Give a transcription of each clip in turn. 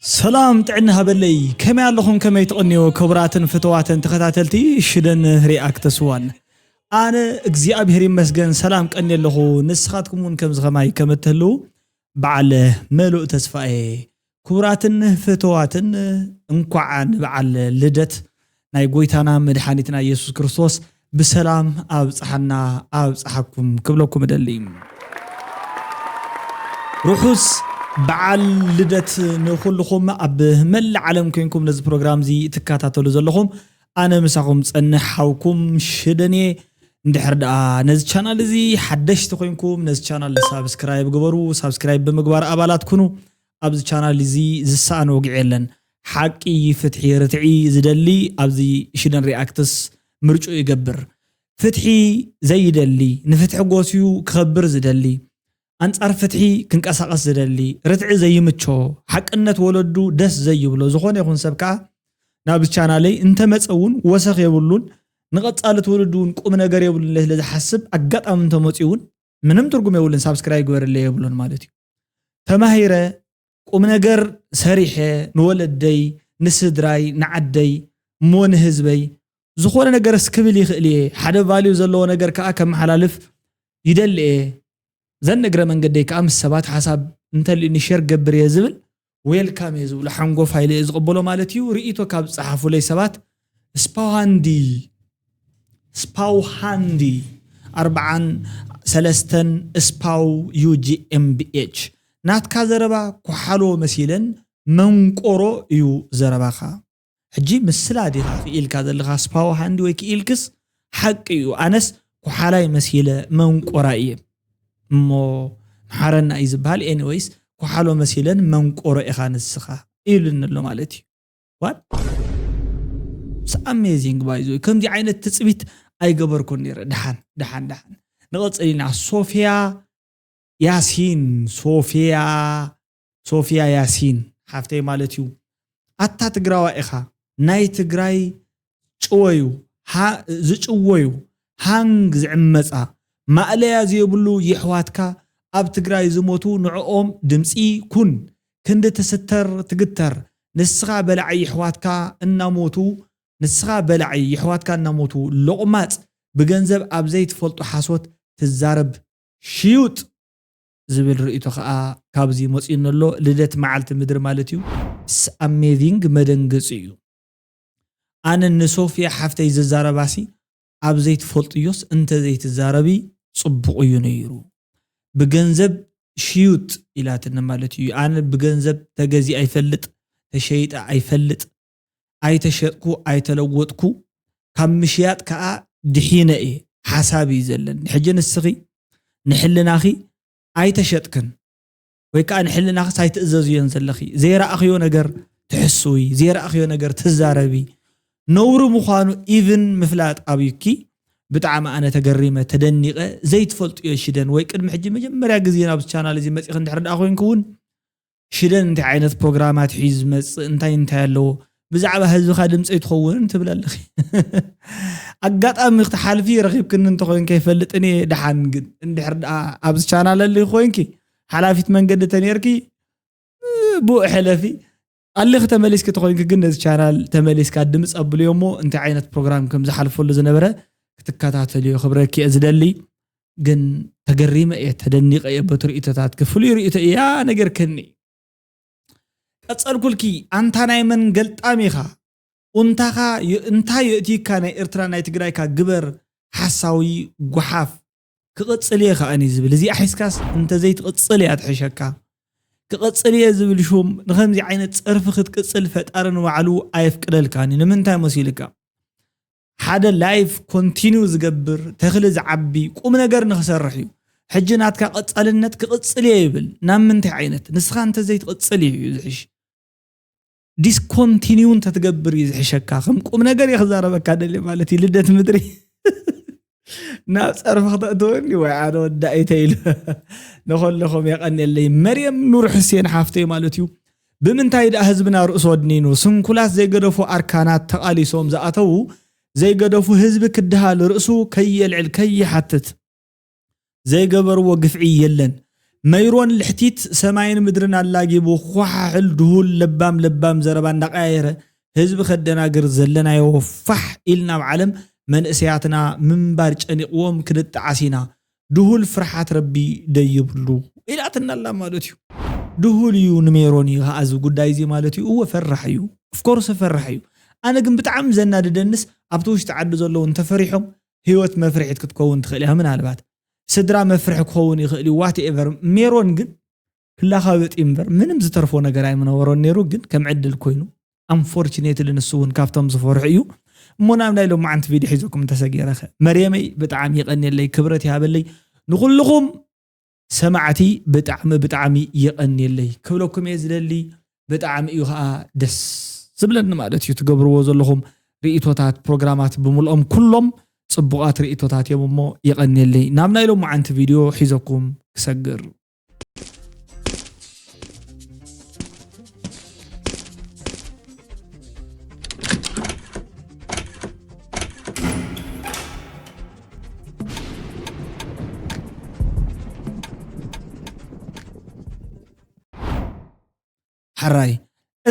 ሰላም ጥዕና ሃበለይ ከመይ ኣለኹም ከመይ ትቕንዮ ክቡራትን ፍተዋትን ተኸታተልቲ ሽደን ሪኣክተስ ዋን ኣነ እግዚኣብሔር ይመስገን ሰላም ቀኒ ኣለኹ ንስኻትኩም እውን ከምዚ ከማይ ከም እትህልው በዓል መሉእ ተስፋ እየ ክቡራትን ፍተዋትን እንኳዕ ንበዓል ልደት ናይ ጎይታና መድሓኒትና የሱስ ክርስቶስ ብሰላም ኣብጽሓና ኣብጽሓኩም ክብለኩም እደሊ። ርሑስ በዓል ልደት ንኹልኹም ኣብ መላእ ዓለም ኮንኩም ነዚ ፕሮግራም እዚ ትከታተሉ ዘለኹም ኣነ ምሳኹም ጸንሕ ሓውኩም ሽደንየ እንድሕር ደኣ ነዚ ቻናል እዚ ሓደሽቲ ኮንኩም ነዚ ቻናል ሳብስክራይብ ግበሩ ሳብስክራይብ ብምግባር ኣባላት ኩኑ ኣብዚ ቻናል እዚ ዝሰኣን ወግዒ የለን ሓቂ ፍትሒ ርትዒ ዝደሊ ኣብዚ ሽደን ሪኣክትስ ምርጭኡ ይገብር ፍትሒ ዘይደሊ ንፍትሒ ጎስዩ ክኸብር ዝደሊ ኣንጻር ፍትሒ ክንቀሳቐስ ዝደሊ ርትዒ ዘይምቾ ሓቅነት ወለዱ ደስ ዘይብሎ ዝኾነ ይኹን ሰብ ከኣ ናብዚ ቻናለይ እንተመጸ እውን ወሰኽ የብሉን ንቐጻሊ ትውልዲ እውን ቁም ነገር የብሉን ኢለ ስለ ዝሓስብ ኣጋጣሚ እንተመጽኡ እውን ምንም ትርጉም የብሉን ሳብስክራይብ ግበርለይ የብሉን ማለት እዩ ተማሂረ ቁም ነገር ሰሪሐ ንወለደይ ንስድራይ ንዓደይ እሞ ንህዝበይ ዝኾነ ነገር እስክብል ይኽእል እየ ሓደ ቫልዩ ዘለዎ ነገር ከዓ ከመሓላልፍ ይደሊ እየ ዘን እግረ መንገደይ ከዓ ምስ ሰባት ሓሳብ እንተልዩኒ ሼር ገብር እየ ዝብል ዌልካም እየ ዝብሎ ሓንጎፋይ ኢለ እየ ዝቕበሎ ማለት እዩ ርእይቶ ካብ ዝጸሓፉለይ ሰባት ስፓውሃንዲ ስፓውሃንዲ ኣርብዓን ሰለስተን ስፓው ዩጂኤምቢኤች ናትካ ዘረባ ኩሓሎ መሲለን መንቆሮ እዩ ዘረባኻ ሕጂ ምስላ ዲኻ ክኢልካ ዘለኻ ስፓዋ ሃንዲ ወይ ክኢልክስ ሓቂ እዩ ኣነስ ኩሓላይ መሲለ መንቆራ እየ እሞ ምሓረና እዩ ዝበሃል ኤኒወይስ ኩሓሎ መሲለን መንቆሮ ኢኻ ንስኻ ኢሉኒ ኣሎ ማለት እዩ ዋት ምስ ኣሜዚንግ ባይዞ ከምዚ ዓይነት ትፅቢት ኣይገበርኩን ነይረ ድሓን ድሓን ድሓን ንቐፅል ኢና ሶፊያ ያሲን ሶፊያ ሶፍያ ያሲን ሓፍተይ ማለት እዩ ኣታ ትግራዋይ ኢኻ ናይ ትግራይ ጭወዩ ዝጭወዩ ሃንግ ዝዕመጻ ማእለያ ዘየብሉ የሕዋትካ ኣብ ትግራይ ዝሞቱ ንዕኦም ድምጺ ኩን ክንዲ ትስተር ትግተር ንስኻ በላዒ የሕዋትካ እናሞቱ ንስኻ በላዒ የሕዋትካ እናሞቱ ሎቕማጽ ብገንዘብ ኣብ ዘይትፈልጦ ሓሶት ትዛረብ ሽዩጥ። ዝብል ርእይቶ ከኣ ካብዚ መጽዩኒ ኣሎ ልደት መዓልቲ ምድሪ ማለት እዩ። ኢትስ ኣሜዚንግ መደንገጺ እዩ ኣነ ንሶፍያ ሓፍተይ ዝዛረባሲ ኣብ ዘይትፈልጥዮስ እንተዘይትዛረቢ ጽቡቅ እዩ ነይሩ ብገንዘብ ሽዩጥ ኢላትኒ ማለት እዩ ኣነ ብገንዘብ ተገዚኣ ይፈልጥ ተሸይጠ ኣይፈልጥ ኣይተሸጥኩ ኣይተለወጥኩ ካብ ምሽያጥ ከኣ ድሒነ እየ ሓሳብ እዩ ዘለኒ ሕጂ ንስኺ ንሕልናኺ ኣይተሸጥክን ወይ ከኣ ንሕልናኽስ ኣይትእዘዝዮን ዘለኺ ዘይረኣኽዮ ነገር ትሕስዊ ዘይረኣኽዮ ነገር ትዛረቢ ነውሪ ምዃኑ ኢቭን ምፍላጥ ኣብዩኪ ብጣዕሚ ኣነ ተገሪመ ተደኒቐ ዘይትፈልጥዮ ሽደን ወይ ቅድሚ ሕጂ መጀመርያ ግዜ ናብዚ ቻናል እዚ መፂኺ እንድሕር ደኣ ኮይንኪ እውን ሽደን እንታይ ዓይነት ፕሮግራማት ሒዩ ዝመጽእ እንታይ እንታይ ኣለዎ ብዛዕባ ህዝብኻ ድምፂ ኣይትኸውን ትብል ኣለኺ ኣጋጣሚ ክትሓልፊ ረኺብክኒ እንተኮይን ከይፈልጥን እየ ድሓን ግን እንድሕር ደኣ ኣብዚ ቻናል ኣሊ ኮይንኪ ሓላፊት መንገዲ ተነርኪ ብኡ ሕለፊ ኣሊኺ ተመሊስኪ ተኮይንኪ ግን ነዚ ቻናል ተመሊስካ ድምፂ ኣብልዮ እሞ እንታይ ዓይነት ፕሮግራም ከም ዝሓልፈሉ ዝነበረ ክትከታተልዮ ክብረኪ እየ ዝደሊ ግን ተገሪመ እየ ተደኒቀ እየ በቲ ርእቶታትኪ ፍሉይ ርእቶ እያ ነገርክኒ ቀጸልኩልኪ ኣንታ ናይ መን ገልጣም ኢኻ ኡንታኻ እንታይ የእትይካ ናይ ኤርትራ ናይ ትግራይካ ግበር ሓሳዊ ጓሓፍ ክቕጽል እየ ከኣ እኔ ዝብል እዚኣ ሒዝካስ እንተዘይትቕጽል እያ ትሕሸካ ክቕጽል እየ ዝብል ሹም ንኸምዚ ዓይነት ጸርፊ ክትቅጽል ፈጣሪ ንባዕሉ ኣየፍቅደልካን እዩ ንምንታይ መሲልካ ሓደ ላይፍ ኮንቲኑ ዝገብር ተክሊ ዝዓቢ ቁም ነገር ንክሰርሕ እዩ ሕጂ ናትካ ቀጻልነት ክቕጽል እየ ይብል ናብ ምንታይ ዓይነት ንስኻ እንተዘይትቕጽል እዩ ዝሕሽ ዲስኮንቲኒው እንተትገብር እዩ ዝሕሸካ ከም ቁም ነገር እየ ክዛረበካ ደልየ ማለት እዩ ልደት ምድሪ ናብ ፀርፊ ክተእትወኒ ወይ ኣነ ወዳኢ ተይሉ ንኸለኹም የቐንየለይ መርየም ኑር ሕሴን ሓፍተይ ማለት እዩ ብምንታይ ደኣ ህዝብና ርእሱ ወድኒኑ ስንኩላት ዘይገደፉ ኣርካናት ተቓሊሶም ዝኣተዉ ዘይገደፉ ህዝቢ ክደሃል ርእሱ ከየልዕል ከይሓትት ዘይገበርዎ ግፍዒ የለን መይሮን ልሕቲት ሰማይን ምድርን ኣላጊቡ ዃሓሕል ድሁል ለባም ለባም ዘረባ እንዳቀያየረ ህዝቢ ከደናግር ዘለናዮ ፋሕ ኢልና ኣብ ዓለም መንእሰያትና ምንባር ጨኒቅዎም ክንጣዓስ ኢና ድሁል ፍርሓት ረቢ ደይብሉ ኢላትና ኣላ ማለት እዩ ድሁል እዩ ንሜሮን እዩ ከኣ እዚ ጉዳይ እዚ ማለት እዩ እወ ፈራሕ እዩ ኦፍኮርስ ፈራሕ እዩ ኣነ ግን ብጣዕሚ ዘናድደንስ ኣብቲ ውሽጢ ዓዲ ዘለዉ እንተፈሪሖም ህይወት መፍርሒት ክትከውን ትኽእል እያ ምናልባት ስድራ መፍርሒ ክኸውን ይኽእል እዩ ዋት ኤቨር ሜሮን ግን ክላኻበጥ እምበር ምንም ዝተርፎ ነገር ኣይምነበሮን ነይሩ ግን ከም ዕድል ኮይኑ ኣንፎርችኔትሊ ንሱ እውን ካብቶም ዝፈርሑ እዩ እሞ ናብ ናይ ሎማዓንቲ ቪድዮ ሒዘኩም እንተሰጊረኸ መርየመይ ብጣዕሚ ይቐኒየለይ ክብረት ይሃበለይ ንኹልኹም ሰማዕቲ ብጣዕሚ ብጣዕሚ የቀንየለይ ክብለኩም እየ ዝደሊ ብጣዕሚ እዩ ከዓ ደስ ዝብለኒ ማለት እዩ ትገብርዎ ዘለኹም ርእቶታት ፕሮግራማት ብምልኦም ኩሎም ፅቡቃት ርእቶታት እዮም እሞ የቀንየለይ ናብ ናይ ሎማዓንቲ ቪድዮ ሒዘኩም ክሰግር ሕራይ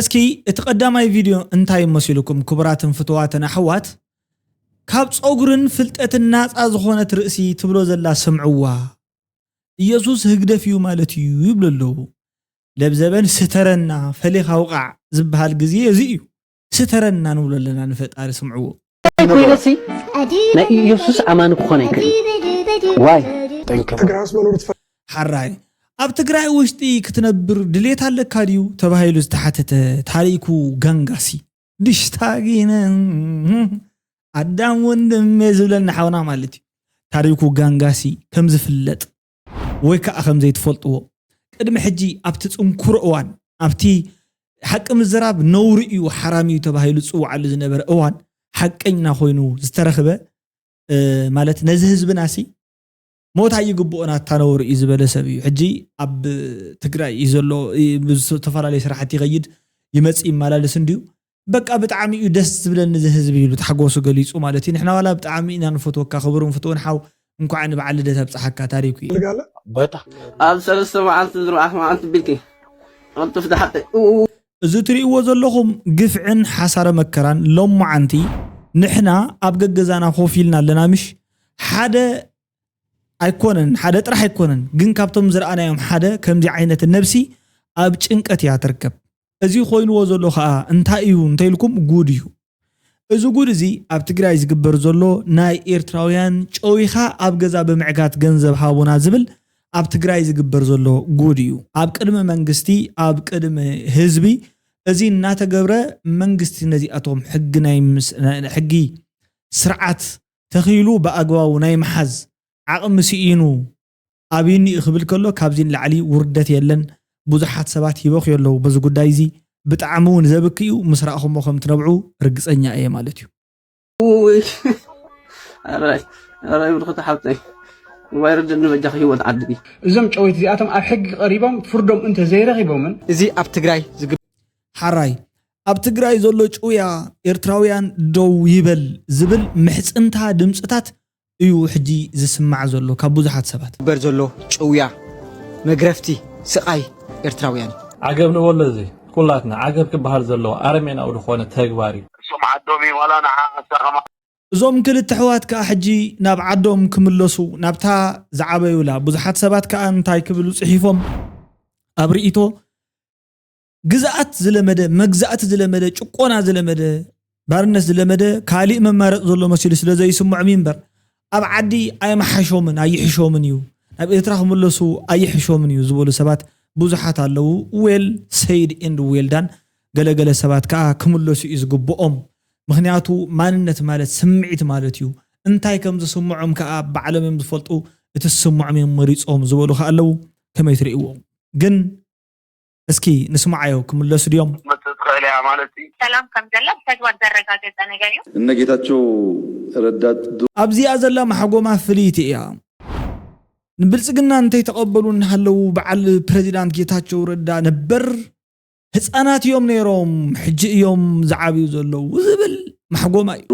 እስኪ እቲ ቀዳማይ ቪድዮ እንታይ መሲሉኩም? ክቡራትን ፍትዋትን ኣሕዋት ካብ ፀጉርን ፍልጠትን ናፃ ዝኾነት ርእሲ ትብሎ ዘላ ስምዕዋ ኢየሱስ ህግደፍ እዩ ማለት እዩ ይብሉ ኣለዉ። ለብዘበን ስተረና ፈሊኻ ውቓዕ ዝብሃል ግዜ እዚ እዩ። ስተረና ንብሎ ኣለና ንፈጣሪ ስምዕዎ። እንታይ ኮይነሲ ናይ ኢየሱስ ኣማኒ ክኾን ኣይክእልን ዋይ። ትግራይ ምስ መኖር ትፈልጥ። ሐራይ ኣብ ትግራይ ውሽጢ ክትነብር ድሌት ኣለካ ድዩ ተባሂሉ ዝተሓተተ ታሪኩ ጋንጋሲ። ድሽታጊነ ኣዳም ወንድሜ ዝብለና ሓውና ማለት እዩ ታሪኩ ጋንጋሲ ከም ዝፍለጥ ወይ ከዓ ከም ዘይትፈልጥዎ ቅድሚ ሕጂ ኣብቲ ፅንኩሮ እዋን ኣብቲ ሓቂ ምዝራብ ነውሪ እዩ ሓራም እዩ ተባሂሉ ዝፅዋዓሉ ዝነበረ እዋን ሓቀኛ ኮይኑ ዝተረኽበ ማለት ነዚ ህዝብና ሲ ሞት ኣይግብኦን ኣታ ነውሪ እዩ ዝበለ ሰብ እዩ ሕጂ ኣብ ትግራይ እዩ ዘሎ ዝተፈላለዩ ስራሕቲ ይኸይድ ይመፅእ ይመላለስ እንድዩ በቃ ብጣዕሚ እዩ ደስ ዝብለኒ እዚ ህዝቢ ይብሉ ታሕጎሱ ገሊፁ ማለት እዩ ንሕና ዋላ ብጣዕሚ ኢና ንፈትወካ ክብሩን ፍትውን ሓው እንኳዕ ንበዓል ልደት ኣብፀሓካ ታሪኩ እዩ በታ ኣብ ሰለስተ መዓልቲ ዝርባዕቲ መዓልቲ ቢልኪ ቅልጡፍ ድሓቂ እዚ ትሪእዎ ዘለኹም ግፍዕን ሓሳረ መከራን ሎማዓንቲ ንሕና ኣብ ገገዛና ኮፍ ኢልና ኣለና ምሽ ሓደ ኣይኮነን ሓደ ጥራሕ ኣይኮነን ግን ካብቶም ዝረኣናዮም ሓደ ከምዚ ዓይነት ነብሲ ኣብ ጭንቀት እያ ትርከብ እዚ ኮይንዎ ዘሎ ከኣ እንታይ እዩ እንተኢልኩም ጉድ እዩ እዚ ጉድ እዚ ኣብ ትግራይ ዝግበር ዘሎ ናይ ኤርትራውያን ጨዊኻ ኣብ ገዛ ብምዕጋት ገንዘብ ሃቡና ዝብል ኣብ ትግራይ ዝግበር ዘሎ ጉድ እዩ ኣብ ቅድሚ መንግስቲ ኣብ ቅድሚ ህዝቢ እዚ እናተገብረ መንግስቲ ነዚኣቶም ሕጊ ናይ ሕጊ ስርዓት ተኺሉ ብኣግባቡ ናይ ምሓዝ ዓቕሚ ስኢኑ ኣብዩኒ ክብል ከሎ ካብዚ ንላዕሊ ውርደት የለን ብዙሓት ሰባት ይበኽዩ ኣለዉ በዚ ጉዳይ እዚ ብጣዕሚ እውን ዘብክ እዩ ምስ ራእኹሞ ከም ትነብዑ ርግፀኛ እየ ማለት እዩ ውይ ኣራይ ኣራይ ብርክቲ ሓብተይ ዋይ ርድእኒ በጃኺ ህይወት ዓዲ እዞም ጨወይቲ እዚኣቶም ኣብ ሕጊ ቀሪቦም ፍርዶም እንተ ዘይረኺቦምን እዚ ኣብ ትግራይ ዝግ ሓራይ ኣብ ትግራይ ዘሎ ጭውያ ኤርትራውያን ደው ይበል ዝብል ምሕፅንታ ድምፅታት እዩ ሕጂ ዝስማዕ ዘሎ ካብ ብዙሓት ሰባት። ዝግበር ዘሎ ጭውያ መግረፍቲ ስቃይ ኤርትራውያን እዩ። ዓገብ ንበሎ እዚ ኩላትና ዓገብ ክበሃል ዘለዎ ኣረሜናዊ ዝኾነ ተግባር እዩ። እሶም ዓዶም እዪም ዋላ ንዓ ኣሳ ከማን። እዞም ክልተ ኣሕዋት ከኣ ሕጂ ናብ ዓዶም ክምለሱ ናብታ ዝዓበዩላ ብዙሓት ሰባት ከኣ እንታይ ክብሉ ጽሒፎም ኣብ ሪኢቶ። ግዝኣት ዝለመደ መግዛእቲ ዝለመደ ጭቆና ዝለመደ ባርነት ዝለመደ ካሊእ መማረፂ ዘሎ መሲሉ ስለ ዘይስምዖም እዩ እምበር ኣብ ዓዲ ኣየመሓሾምን ኣይሕሾምን እዩ ናብ ኤርትራ ክምለሱ ኣይሕሾምን እዩ ዝበሉ ሰባት ብዙሓት ኣለዉ ዌል ሰይድ ኤንድ ዌልዳን ገለገለ ሰባት ከዓ ክምለሱ እዩ ዝግብኦም ምክንያቱ ማንነት ማለት ስምዒት ማለት እዩ እንታይ ከም ዝስምዖም ከዓ ባዕሎም እዮም ዝፈልጡ እቲ ዝስምዖም እዮም መሪፆም ዝበሉ ከዓ ኣለዉ ከመይ ትርእይዎም ግን እስኪ ንስማዓዮ ክምለሱ ድዮም። ክትመጽእ ትኽእል እያ ማለት እዩ። ሰላም ከም ዘላ ብተግባር ዘረጋገጸ ነገር እዩ። እነ ጌታቸው ረዳ። ኣብዚኣ ዘላ ማሕጎማ ፍልይቲ እያ። ንብልፅግና እንተይተቐበሉ እናሃለዉ በዓል ፕረዚዳንት ጌታቸው ረዳ ነበር ህፃናት እዮም ነይሮም ሕጂ እዮም ዝዓብዩ ዘለዉ ዝብል ማሕጎማ እዩ።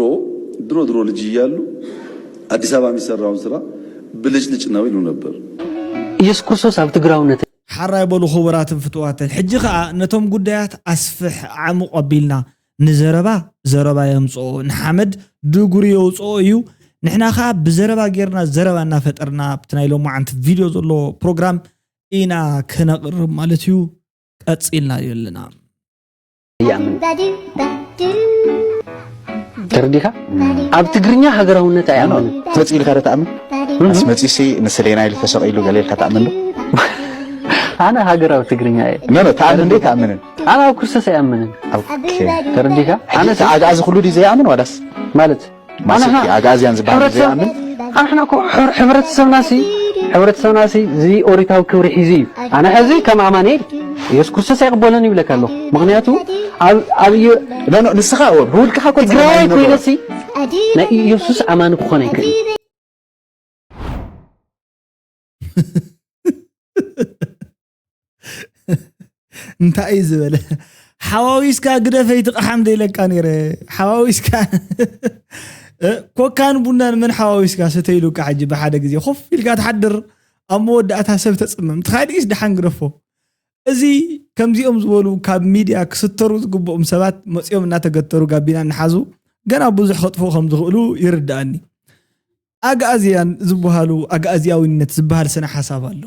ድሮ ድሮ ልጅ እያሉ አዲስ አበባ የሚሰራውን ስራ ብልጭልጭ ነው ይሉ ነበር። ኢየሱስ ክርስቶስ ኣብ ትግራውነት። ሓራይ በሉ ክቡራትን ፍቱዋትን ሕጂ ከኣ ነቶም ጉዳያት ኣስፍሕ ኣዕሙቅ ኣቢልና ንዘረባ ዘረባ የምጽኦ ንሓመድ ድጉሪ የውጽኦ እዩ ንሕና ከኣ ብዘረባ ጌርና ዘረባ እናፈጠርና ኣብቲ ናይ ሎማዓንቲ ቪድዮ ዘሎ ፕሮግራም ኢና ከነቅርብ ማለት እዩ ቀጺልና ኣለና ተረዲኻ ኣብ ትግርኛ ሃገራውነት ኣይኣምን መፅ ኢልካ ዶ ተኣምን ምስ መፂሲ ንስሌና ኢሉ ተሰቂሉ ገለ ኢልካ ተኣምን ዶ ኣነ ሃገራዊ ትግርኛ እየ ኖኖ ተኣምን እንዴ ተኣምንን ኣነ ኣብ ክርስቶስ ኣይኣምንን ተረዲኻ ኣነ ኣግኣዚ ኩሉ ድዩ ዘይኣምን ዋላስ ማለት ማሰልጢ ኣግኣዝያን ዝበሃል ንዘይኣምን ኣንሕና እኮ ሕብረተሰብናሲ ሕብረተሰብናሲ እዚ ኦሪታዊ ክብሪ ሒዙ እዩ ኣነ ሕዚ ከም ኣማኒኤል ኢየሱስ ክርስቶስ ኣይቕበሎን ይብለካ ኣለኹ ምክንያቱ ኣብ ንስኻ ብውልቅኻ እኮ ትግራይ ኮይነሲ ናይ ኢየሱስ ኣማኒ ክኾን ኣይክእል እንታይ እዩ ዝበለ ሓዋዊስካ ግደፈይ ትቕሓም ደይለካ ነይረ ሓዋዊስካ ኮካን ቡናን መን ሓዋዊስካ ሰተይሉካ ሕጂ ብሓደ ግዜ ኮፍ ኢልካ ትሓድር ኣብ መወዳእታ ሰብ ተፅምም ትኻዲስ ድሓን ግደፎ እዚ ከምዚኦም ዝበሉ ካብ ሚድያ ክስተሩ ዝግብኦም ሰባት መፂኦም እናተገተሩ ጋቢና እናሓዙ ገና ብዙሕ ከጥፉ ከም ዝኽእሉ ይርድኣኒ ኣግኣዝያን ዝበሃሉ ኣግኣዝያዊነት ዝበሃል ስነ ሓሳብ ኣሎ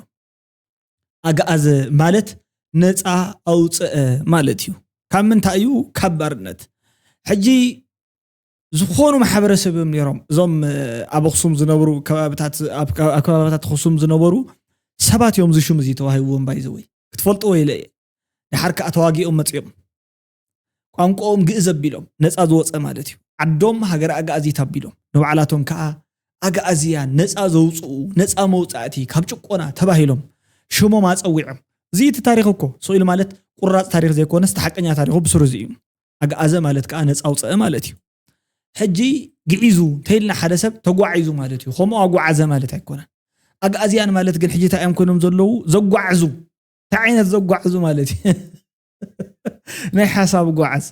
ኣግኣዘ ማለት ነፃ ኣውፀኣ ማለት እዩ። ካብ ምንታይ እዩ? ካብ ባርነት። ሕጂ ዝኾኑ ማሕበረሰብ እዮም ነይሮም እዞም ኣብ ኣኽሱም ዝነብሩ ከባብታት ኣብ ከባብታት ኣኽሱም ዝነበሩ ሰባት እዮም እዚ ሽም እዚ ተዋሂብዎም ባይዘወይ ክትፈልጥዎ ኢለ እየ። ድሓር ከዓ ተዋጊኦም መፂኦም። ቋንቋኦም ግእዝ ኣቢሎም ነፃ ዝወፀ ማለት እዩ። ዓዶም ሃገረ ኣግኣዚት ኣቢሎም ንባዕላቶም ከዓ ኣግኣዚያን ነፃ ዘውፅኡ፣ ነፃ መውፃእቲ ካብ ጭቆና ተባሂሎም ሽሞም ኣፀዊዖም። እዚ እቲ ታሪኽ እኮ ስቕ ኢሉ ማለት ቁራፅ ታሪኽ ዘይኮነስ እቲ ሓቀኛ ታሪኹ ብስሩ እዚ እዩ። ኣግኣዘ ማለት ከዓ ነፃ ኣውፀኣ ማለት እዩ። ሕጂ ግዒዙ እንተይልና ሓደ ሰብ ተጓዒዙ ማለት እዩ። ከምኡ ኣጉዓዘ ማለት ኣይኮነን። ኣግኣዚያን ማለት ግን ሕጂ እንታይ እዮም ኮይኖም ዘለዉ? ዘጓዕዙ። እንታይ ዓይነት ዘጓዕዙ ማለት እዩ? ናይ ሓሳብ ጓዓዝ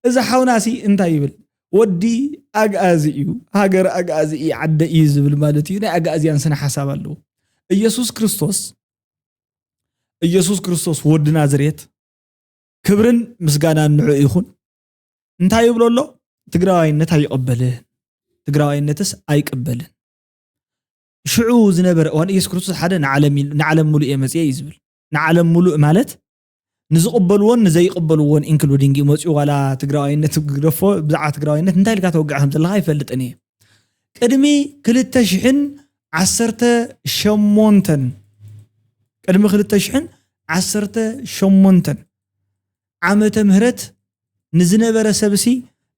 እዚ ሓውና ሲ እንታይ ይብል ወዲ ኣግኣዚ እዩ ሃገር ኣግኣዚ እዩ ዓደ እዩ ዝብል ማለት እዩ ናይ ኣግኣዝያን ስነ ሓሳብ ኣለዎ ኢየሱስ ክርስቶስ ኢየሱስ ክርስቶስ ወዲ ናዝሬት ክብርን ምስጋናን ንዑ ይኹን እንታይ ይብሎ ኣሎ ትግራዋይነት ኣይቀበልን ትግራዋይነትስ ኣይቅበልን ሽዑ ዝነበረ እዋን ኢየሱስ ክርስቶስ ሓደ ንዓለም ንዓለም ሙሉእ እየ መፅየ እዩ ዝብል ንዓለም ሙሉእ ማለት ንዝቅበልዎን ንዘይቅበልዎን ኢንክሉዲንግ እዩ መፅኡ ዋላ ትግራዋይነት ግደፎ ብዛዕባ ትግራዋይነት እንታይ ኢልካ ተወግዕ ከም ዘለካ ይፈልጥን እየ ቅድሚ ክልተ ሽሕን ዓሰርተ ሸሞንተን ቅድሚ ክልተ ሽሕን ዓሰርተ ሸሞንተን ዓመተ ምህረት ንዝነበረ ሰብሲ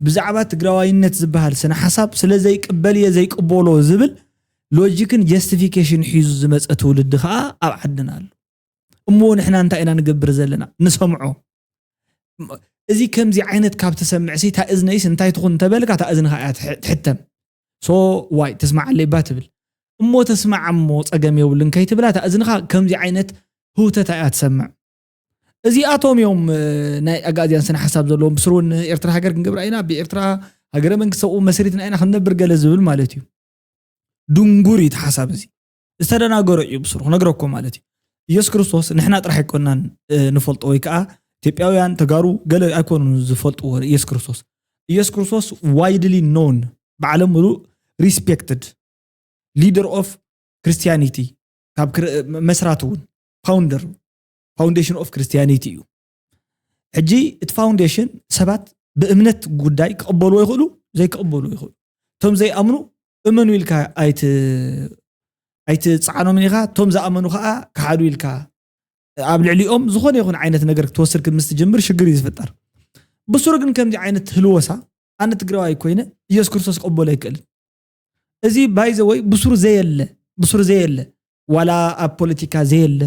ብዛዕባ ትግራዋይነት ዝበሃል ስነ ሓሳብ ስለ ዘይቅበል እየ ዘይቅበሎ ዝብል ሎጂክን ጀስቲፊኬሽን ሒዙ ዝመፀ ትውልዲ ከዓ ኣብ ዓድና ኣሎ እሞ ንሕና እንታይ ኢና ንገብር ዘለና ንሰምዖ እዚ ከምዚ ዓይነት ካብ ትሰምዕሲ እታ እዝነይስ እንታይ ትኹን እንተበልካ እታ እዝንኻ እያ ትሕተም ሶ ዋይ ተስማዓለይ እባ ትብል እሞ ተስማዕ እሞ ፀገም የብሉን ከይትብላ እታ እዝንኻ ከምዚ ዓይነት ህውተታ እያ ትሰምዕ እዚኣቶም እዮም ናይ ኣጋእዝያን ስነ ሓሳብ ዘለዎም ብስሩ እውን ኤርትራ ሃገር ክንገብራ ኢና ብኤርትራ ሃገረ መንግስቲ ሰብኡ መስሪትና ኢና ክንነብር ገለ ዝብል ማለት እዩ ድንጉር እዩ እቲ ሓሳብ እዚ ዝተደናገሮ እዩ ብስሩ ክነግረኩም ማለት እዩ ኢየሱስ ክርስቶስ ንሕና ጥራሕ ኣይኮናን ንፈልጦ ወይ ከዓ ኢትዮጵያውያን ተጋሩ ገለ ኣይኮኑ ዝፈልጥዎ ኢየሱስ ክርስቶስ ኢየሱስ ክርስቶስ ዋይድሊ ኖን ብዓለም ምሉእ ሪስፔክትድ ሊደር ኦፍ ክርስቲያኒቲ ካብ መስራት እውን ፋውንደር ፋውንዴሽን ኦፍ ክርስቲያኒቲ እዩ ሕጂ እቲ ፋውንዴሽን ሰባት ብእምነት ጉዳይ ክቕበልዎ ይኽእሉ ዘይክቕበልዎ ይኽእሉ እቶም ዘይኣምኑ እመኑ ኢልካ ኣይትፅዓኖምን ኢኻ እቶም ዝኣመኑ ከዓ ክሓዱ ኢልካ ኣብ ልዕሊኦም ዝኾነ ይኹን ዓይነት ነገር ክትወስድ ምስ ትጅምር ሽግር እዩ ዝፍጠር ብስሩ ግን ከምዚ ዓይነት ህልወሳ ኣነ ትግራዋይ ኮይነ ኢየሱስ ክርስቶስ ክቕበሎ ኣይክእልን እዚ ባይዘወይ ብሱር ዘየለ ብሱር ዘየለ ዋላ ኣብ ፖለቲካ ዘየለ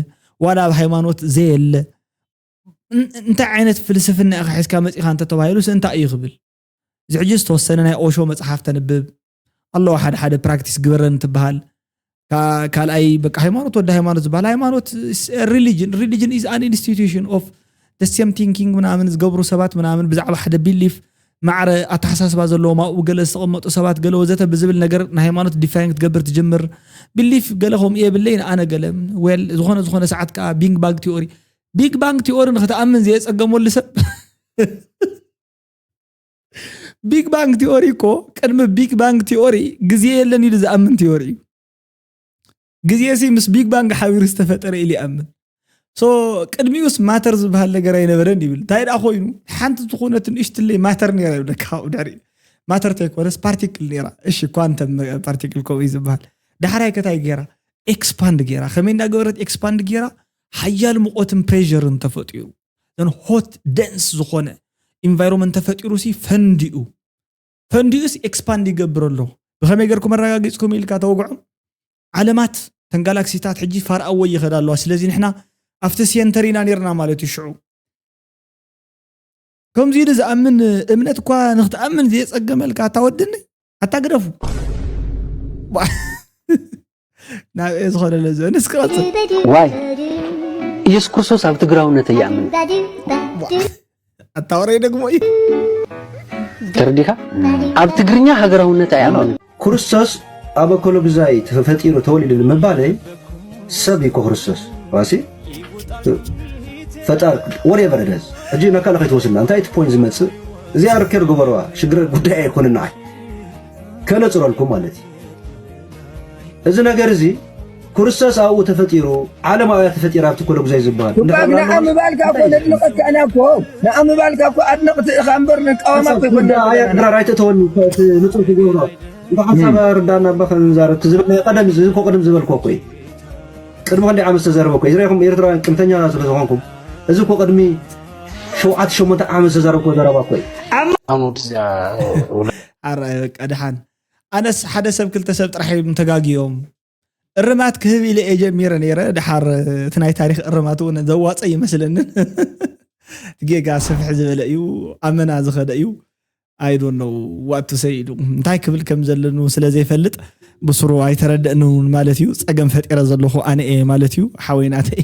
ዋላ ኣብ ሃይማኖት ዘየለ እንታይ ዓይነት ፍልስፍና ኢኻ ሒዝካ መፂኻ እንተተባሂሉ ስ እንታይ እዩ ክብል እዚ ሕጂ ዝተወሰነ ናይ ኦሾ መፅሓፍ ተንብብ ኣለዋ ሓደ ሓደ ፕራክቲስ ግበረን ትበሃል ካልኣይ በቃ ሃይማኖት ወደ ሃይማኖት ዝበሃል ሃይማኖት ሪሊጅን ሪሊጅን ኢዝ ኣን ኢንስቲቱሽን ኦፍ ደሴም ቲንኪንግ ምናምን ዝገብሩ ሰባት ምናምን ብዛዕባ ሓደ ቢሊፍ ማዕረ ኣተሓሳስባ ዘለዎም ኣብኡ ገለ ዝተቐመጡ ሰባት ገለ ወዘተ ብዝብል ነገር ንሃይማኖት ዲፋይን ክትገብር ትጅምር ቢሊፍ ገለ ከምኡ የብለይ ንኣነ ገለ ዌል ዝኾነ ዝኾነ ሰዓት ከዓ ቢንግ ባግ ቲኦሪ ቢግ ባንግ ቲኦሪ ንክትኣምን ዘየፀገመሉ ሰብ ቢግ ባንግ ቲዮሪ እኮ ቅድሚ ቢግ ባንግ ቲዮሪ ግዜ የለን ኢሉ ዝኣምን ቲዮሪ እዩ ግዜ ሲ ምስ ቢግ ባንግ ሓቢሩ ዝተፈጠረ ኢሉ ይኣምን ሶ ቅድሚኡስ ማተር ዝበሃል ነገር ኣይነበረን ይብል እንታይ ደኣ ኮይኑ ሓንቲ ዝኾነት ንእሽትለይ ማተር ነራ ይብለካ ካብኡ ድሕሪ ማተር ተይኮነስ ፓርቲክል ነራ እሺ ኳንተም ፓርቲክል ከምኡ እዩ ዝበሃል ዳሕራይ ከታይ ገይራ ኤክስፓንድ ገይራ ከመይ እንዳገበረት ኤክስፓንድ ገይራ ሓያል ሙቆትን ፕሬርን ተፈጢሩ ዘን ሆት ደንስ ዝኾነ ኢንቫይሮንመንት ተፈጢሩ ሲ ፈንዲኡ ፈንዲኡስ ኤክስፓንድ ይገብር ኣሎ ብኸመይ ገርኩም ኣረጋጊፅኩም ኢልካ ተወግዖም ዓለማት ተን ጋላክሲታት ሕጂ ፋርኣወ ይኸዳ ኣለዋ ስለዚ ንሕና ኣብቲ ሴንተር ኢና ነርና ማለት እዩ ሽዑ ከምዚ ኢሉ ዝኣምን እምነት እኳ ንክትኣምን ዘየፀገመልካ ኣታ ወድኒ ኣታ ግደፉ ናብ እየ ዝኾነለ ዝ ንስኪ ቀፅል ዋይ ኢየሱስ ክርስቶስ ኣብ ትግራውነት እያምን ኣታወረ ደግሞ እዩ ተረዲኻ ኣብ ትግርኛ ሃገራውነት ኣይኣምንን ክርስቶስ ኣብ ኣኮሎግዛይ ተፈጢሩ ተወሊዱ ንምባለይ ሰብ እዩ ክርስቶስ ዋሲ ፈጣር ወሬቨር ደዝ ሕጂ ናብ ካልእ ከይትወስድና እንታይ እቲ ፖይንት ዝመፅእ እዚኣ ርከር ግበረዋ ሽግረ ጉዳይ ኣይኮነ ንዓይ ከነፅረልኩም ማለት እዩ እዚ ነገር እዚ ኩርሰስ ኣብኡ ተፈጢሩ ዓለም ኣብያ ተፈጢራ ኣብቲ ኮለጉዛይ ዝበሃል ንኣምባልካ እኮ ነድንቐካ ኢና እኮ ንኣምባልካ እኮ ኣድነቕቲ ኢኻ እምበር ንቃወማ ኮይኮንድራር ኣይተእተወኒ እቲ ንፁር ክገብሮ እንተ ሓሳብ ርዳና እባ ክንዛረብ እቲ ዝብል ናይ ቀደም እዚ እኮ ቅድም ዝበልኮ እኮ እዩ ቅድሚ ክንደይ ዓመት ዝተዘረበ እኮ ዝረኹም ኤርትራውያን ቅንተኛ ስለ ዝኾንኩም እዚ እኮ ቅድሚ ሸውዓተ ሸሞንተ ዓመት ዝተዘረብኮ ዘረባ እኮ እዩ ኣራይ በቃ ድሓን ኣነስ ሓደ ሰብ ክልተ ሰብ ጥራሕ እዮም ተጋግዮም እርማት ክህብ ኢለ እየ ጀሚረ ነይረ ድሓር እቲ ናይ ታሪክ እርማት እውን ዘዋፀ ይመስለንን ጌጋ ስፍሕ ዝበለ እዩ ኣመና ዝኸደ እዩ ኣይዶ ነው ዋቱ ሰይዱ እንታይ ክብል ከም ዘለኑ ስለ ዘይፈልጥ ብስሩ ኣይተረደእንን ማለት እዩ ፀገም ፈጢረ ዘለኹ ኣነ እየ ማለት እዩ ሓወይናተይ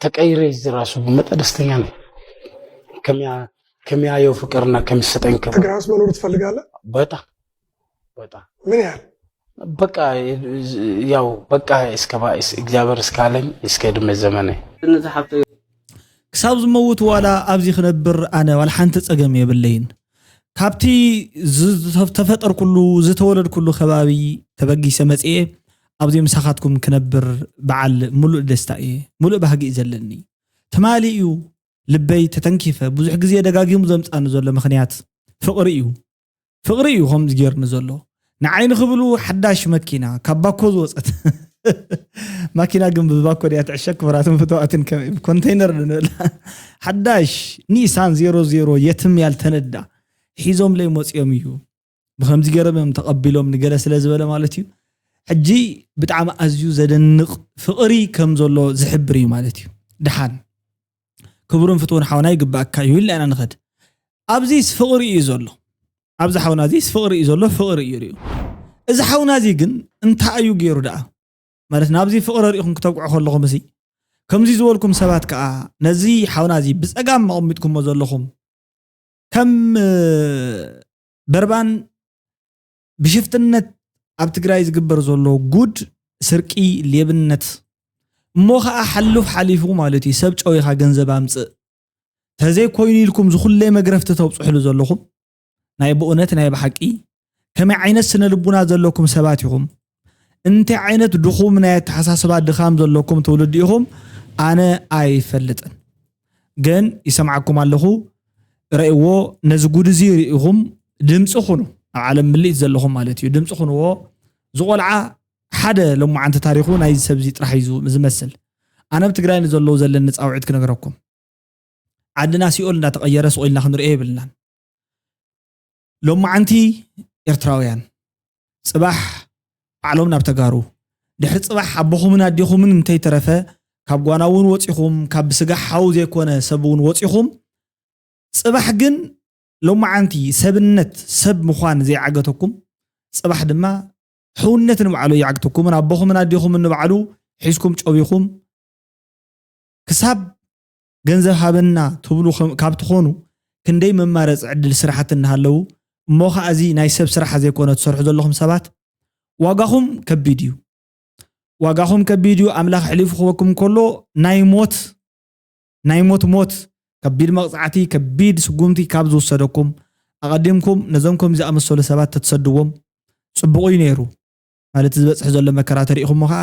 ተቀይሬ እዚ ራሱ ብመጠ ደስተኛ ነኝ። ከሚያየው ፍቅርና ከሚሰጠኝ ክብር እግር ራስ መኖር ትፈልጋለህ? በጣም በጣም ምን ያህል በቃ ያው በቃ እግዚኣብሔር እስካለኝ እስከ ዕድሜ ዘመነ ክሳብ ዝመውት ዋላ ኣብዚ ክነብር ኣነ ዋላ ሓንቲ ፀገም የብለይን ካብቲ ዝተፈጠርኩሉ ዝተወለድኩሉ ከባቢ ተበጊሰ መፅኤ ኣብዚ ምሳኻትኩም ክነብር በዓል ምሉእ ደስታ እየ። ምሉእ ባህጊ እዩ ዘለኒ። ትማሊ እዩ ልበይ ተተንኪፈ ብዙሕ ግዜ ደጋጊሙ ዘምጻኒ ዘሎ ምኽንያት ፍቕሪ እዩ። ፍቕሪ እዩ ከምዚ ጌርኒ ዘሎ። ንዓይ ንኽብሉ ሓዳሽ መኪና ካብ ባኮ ዝወጸት ማኪና ግን ብባኮ ድያ ትዕሸግ ክቡራትን ፍትዋትን ከመይ ብኮንተይነር ንብላ ሓዳሽ ኒሳን ዜሮ ዜሮ የትም ያልተነዳ ሒዞምለይ መጽኦም እዩ ብከምዚ ገይሮም እዮም ተቐቢሎም ንገለ ስለ ዝበለ ማለት እዩ ሕጂ ብጣዕሚ ኣዝዩ ዘደንቕ ፍቕሪ ከም ዘሎ ዝሕብር እዩ ማለት እዩ ድሓን ክቡርን ፍትውን ሓውና ይግባእካ እዩ ኢልና ኢና ንኸድ ኣብዚስ ፍቕሪ እዩ ዘሎ ኣብዚ ሓውና እዚስ ፍቕሪ እዩ ዘሎ ፍቕሪ እዩ ርዩ እዚ ሓውና እዚ ግን እንታይ እዩ ገይሩ ደኣ ማለት ናብዚ ፍቕሪ ርኢኹም ክተብቅዑ ከለኹም እሲ ከምዚ ዝበልኩም ሰባት ከዓ ነዚ ሓውና እዚ ብፀጋም መቐሚጥኩሞ ዘለኹም ከም በርባን ብሽፍትነት ኣብ ትግራይ ዝግበር ዘሎ ጉድ ስርቂ ሌብነት እሞ ከዓ ሓሉፍ ሓሊፉ ማለት እዩ ሰብ ጨዊኻ ገንዘብ ኣምፅእ ተዘይኮይኑ ኢልኩም ዝኩለይ መግረፍቲ ተብፅሕሉ ዘለኹም ናይ ብእውነት ናይ ብሓቂ ከመይ ዓይነት ስነ ልቡና ዘለኩም ሰባት ኢኹም እንታይ ዓይነት ድኹም ናይ ኣተሓሳስባ ድኻም ዘለኩም ትውልዲ ኢኹም ኣነ ኣይፈልጥን ግን ይሰምዓኩም ኣለኹ ረእዎ ነዚ ጉድ እዚ ርኢኹም ድምፂ ኩኑ ኣብ ዓለም ምልኢት ዘለኹም ማለት እዩ ድምፂ ኩንዎ ዝቆልዓ ሓደ ሎማዓንቲ ታሪኹ ናይዚ ሰብ እዚ ጥራሕ እዩ ዝመስል ኣነ ኣብ ትግራይ ንዘለዉ ዘለኒ ፃውዒት ክነግረኩም ዓድና ሲኦል እንዳተቐየረ ስቑኢልና ክንሪኦ የብልናን ሎማዓንቲ ኤርትራውያን ጽባሕ ባዕሎም ናብ ተጋሩ ድሕሪ ጽባሕ ኣቦኹምን ኣዴኹምን እንተይተረፈ ካብ ጓና እውን ወጺኹም ካብ ብስጋ ሓው ዘይኮነ ሰብ እውን ወጺኹም ጽባሕ ግን ሎማዓንቲ ሰብነት ሰብ ምዃን ዘይዓገተኩም ጽባሕ ድማ ሕውነት ንባዕሉ ይዓግተኩምን ኣቦኹምን ኣዴኹምን ንባዕሉ ሒዝኩም ጨቢኹም ክሳብ ገንዘብ ሃበና ትብሉ ካብ ትኾኑ ክንደይ መማረፂ ዕድል ስራሕቲ እናሃለዉ እሞ ኻዓ እዚ ናይ ሰብ ስራሕ ዘይኮነ ትሰርሑ ዘለኹም ሰባት ዋጋኹም ከቢድ እዩ ዋጋኹም ከቢድ እዩ ኣምላኽ ኣሕሊፉ ክበኩም ከሎ ናይ ሞት ናይ ሞት ሞት ከቢድ መቕፃዕቲ ከቢድ ስጉምቲ ካብ ዝውሰደኩም ኣቐዲምኩም ነዞም ከም ዝኣመሰሉ ሰባት ተትሰድዎም ፅቡቕ እዩ ነይሩ ማለት ዝበፅሕ ዘሎ መከራ ተሪኢኹሞ ከዓ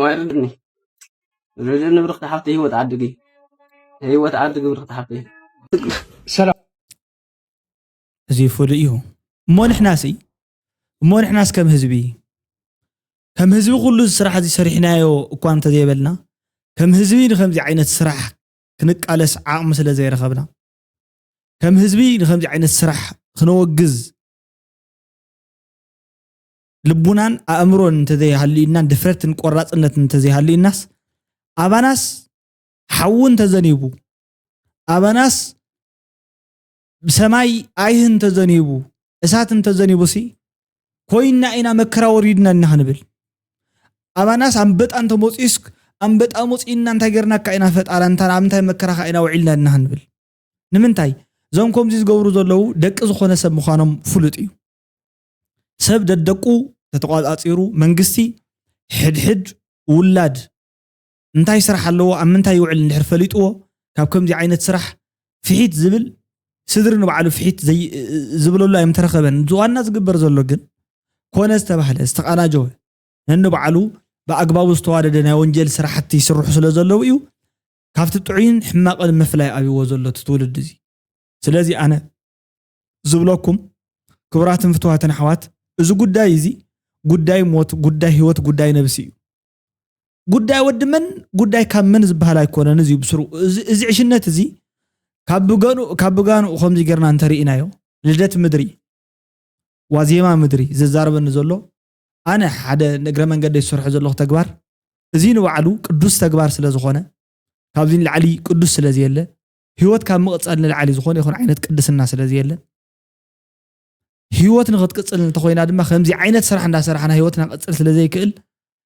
ዋይርድኒ ርድኒ ብርክቲ ሓፍቲ ህይወት ዓድጊ ህይወት ዓድጊ ብርክቲ ሓፍቲ ሰላም እዚ ፍሉይ እዩ እሞ ንሕናሲ እሞ ንሕናስ ከም ህዝቢ ከም ህዝቢ ኩሉ ስራሕ እዚ ሰሪሕናዮ እኳ እንተዘይበልና ከም ህዝቢ ንከምዚ ዓይነት ስራሕ ክንቃለስ ዓቕሚ ስለ ዘይረኸብና ከም ህዝቢ ንከምዚ ዓይነት ስራሕ ክነወግዝ ልቡናን ኣእምሮን እንተዘይሃልዩናን ድፍረትን ቆራፅነትን እንተዘይሃልዩናስ ኣባናስ ሓዊ እንተዘኒቡ ኣባናስ ሰማይ ኣይህ እንተዘኒቡ እሳት እንተዘኒቡሲ ኮይና ኢና መከራ ወሪድና ኢና ክንብል ኣባናስ ኣንበጣ እንተመፅኡስ ኣንበጣ መፅኡና እንታይ ጌርናካ ኢና ፈጣራ እንታ ኣብ እንታይ መከራኻ ኢና ውዒልና ኢና ክንብል ንምንታይ እዞም ከምዚ ዝገብሩ ዘለዉ ደቂ ዝኾነ ሰብ ምዃኖም ፍሉጥ እዩ ሰብ ደደቁ ተተቋፃፂሩ መንግስቲ ሕድሕድ ውላድ እንታይ ስራሕ ኣለዎ ኣብ ምንታይ ይውዕል እንድሕር ፈሊጥዎ ካብ ከምዚ ዓይነት ስራሕ ፍሒት ዝብል ስድሪ ንባዕሉ ፍሒት ዝብለሉ ኣይምተረኸበን ዋና ዝግበር ዘሎ ግን ኮነ ዝተባህለ ዝተቃናጀወ ነንባዕሉ ብኣግባቡ ዝተዋደደ ናይ ወንጀል ስራሕቲ ይስርሑ ስለ ዘለዉ እዩ ካብቲ ጥዑይን ሕማቕን ምፍላይ ኣብዎ ዘሎ እቲ ትውልዲ እዚ ስለዚ ኣነ ዝብለኩም ክቡራትን ፍትዋትን ኣሕዋት እዚ ጉዳይ እዚ ጉዳይ ሞት፣ ጉዳይ ህይወት፣ ጉዳይ ነብሲ እዩ። ጉዳይ ወዲ መን ጉዳይ ካብ መን ዝበሃል ኣይኮነን እዚ ብስሩ እዚ ዕሽነት እዚ ካብ ብገኑ ካብ ብጋንኡ ከምዚ ጌርና እንተርኢናዮ ልደት ምድሪ ዋዜማ ምድሪ ዘዛርበኒ ዘሎ ኣነ ሓደ ንእግረ መንገዲ ዝሰርሖ ዘለኹ ተግባር እዚ ንባዕሉ ቅዱስ ተግባር ስለ ዝኾነ ካብዚ ንላዕሊ ቅዱስ ስለ ዘየለ ህይወት ካብ ምቕፃል ንላዕሊ ዝኾነ ይኹን ዓይነት ቅድስና ስለ ዘየለን ህይወት ንክትቅፅል እንተኮይና ድማ ከምዚ ዓይነት ስራሕ እንዳሰራሕና ህይወትና ቅፅል ስለ ዘይክእል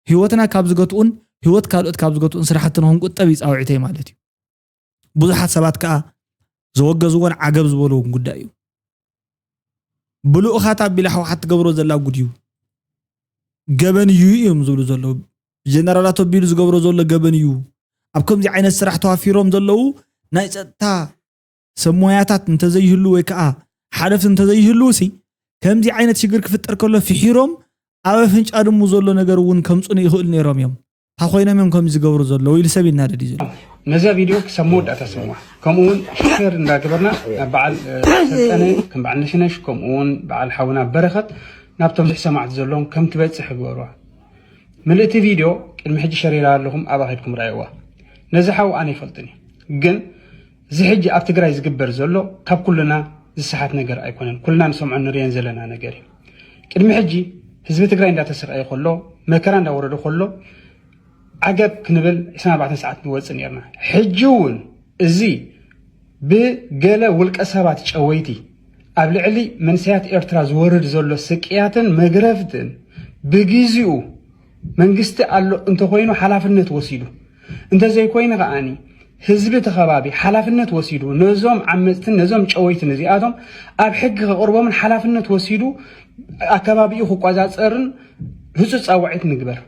ህይወትና ካብ ዝገትኡን ህይወት ካልኦት ካብ ዝገትኡን ስራሕቲ ንክንቁጠብ እዩ ፃውዒተይ ማለት እዩ ብዙሓት ሰባት ከዓ ዘወገዝዎን ዓገብ ዝበልዎም ጉዳይ እዩ ብልኡኻት ኣቢላ ህወሓት ትገብሮ ዘላ ጉድ እዩ። ገበን እዩ እዮም ዝብሉ ዘለዉ ጀነራላት ኣቢሉ ዝገብሮ ዘሎ ገበን እዩ። ኣብ ከምዚ ዓይነት ስራሕ ተዋፊሮም ዘለዉ ናይ ፀጥታ ሰብ ሞያታት እንተዘይህሉ ወይ ከዓ ሓለፍቲ እንተዘይህልው ሲ ከምዚ ዓይነት ሽግር ክፍጠር ከሎ ፍሒሮም ኣብ ኣፍንጫ ድሙ ዘሎ ነገር እውን ከምፅኑ ይኽእሉ ነይሮም እዮም። እንታይ ኮይኖም እዮም ከምዚ ዝገብሩ ዘለዉ ኢሉ ሰብ ይናደድ እዩ ዘሎ ነዛ ቪድዮ ክሳብ መወዳእታ ስምዋ ከምኡ እውን ሸር እንዳገበርና ናብ በዓል ሰልጠነ ከም በዓል ነሽነሽ ከምኡ እውን በዓል ሓውና በረኸት ናብቶም ብዙሕ ሰማዕቲ ዘለዎም ከም ትበፅሕ ግበርዋ ምልእቲ ቪድዮ ቅድሚ ሕጂ ሸሪራ ኣለኹም ኣብኣ ከድኩም ረኣይዋ ነዚ ሓው ኣነ ይፈልጥን እዩ ግን እዚ ሕጂ ኣብ ትግራይ ዝግበር ዘሎ ካብ ኩልና ዝሰሓት ነገር ኣይኮነን ኩልና ንሰምዖን ንርእዮን ዘለና ነገር እዩ ቅድሚ ሕጂ ህዝቢ ትግራይ እንዳተሰቃየ ከሎ መከራ እንዳወረዶ ከሎ ዓገብ ክንብል 24 ሰዓት ንወፅእ ነርና ሕጂ እውን እዚ ብገለ ውልቀ ሰባት ጨወይቲ ኣብ ልዕሊ መንሰያት ኤርትራ ዝወርድ ዘሎ ስቅያትን መግረፍትን ብግዚኡ መንግስቲ ኣሎ እንተኾይኑ ሓላፍነት ወሲዱ እንተዘይኮይኑ ከዓኒ ህዝቢ እቲ ከባቢ ሓላፍነት ወሲዱ ነዞም ዓመፅትን ነዞም ጨወይትን እዚኣቶም ኣብ ሕጊ ከቕርቦምን ሓላፍነት ወሲዱ ኣከባቢኡ ክቆፃፀርን ህፁፅ ፃውዒት ንግበር።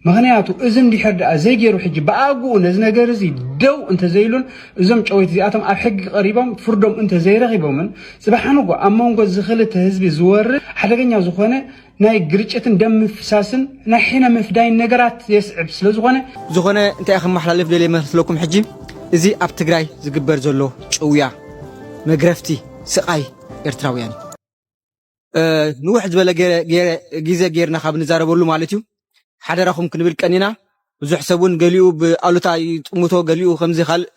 ምክንያቱ እዚ እንድሕር ደኣ ዘይገይሩ ሕጂ ብኣግኡ ነዚ ነገር እዚ ደው እንተዘይሉን እዞም ጨወይቲ እዚኣቶም ኣብ ሕጊ ቀሪቦም ፍርዶም እንተዘይረኺቦምን ፅባሕ ንጎ ኣብ መንጎ እዚ ክልተ ህዝቢ ዝወርድ ሓደገኛ ዝኾነ ናይ ግርጭትን ደም ምፍሳስን ናይ ሕነ ምፍዳይን ነገራት የስዕብ ስለዝኾነ ዝኾነ እንታይ ከመሓላልፍ ደልየ መስለኩም ሕጂ እዚ ኣብ ትግራይ ዝግበር ዘሎ ጭውያ መግረፍቲ ስቓይ ኤርትራውያን እዩ ንውሕ ዝበለ ግዜ ጌርና ካብ ንዛረበሉ ማለት እዩ ሓደራኹም ክንብል ቀኒና ብዙሕ ሰብ እውን ገሊኡ ብኣሉታ ይጥምቶ ገሊኡ ከምዚ ካልእ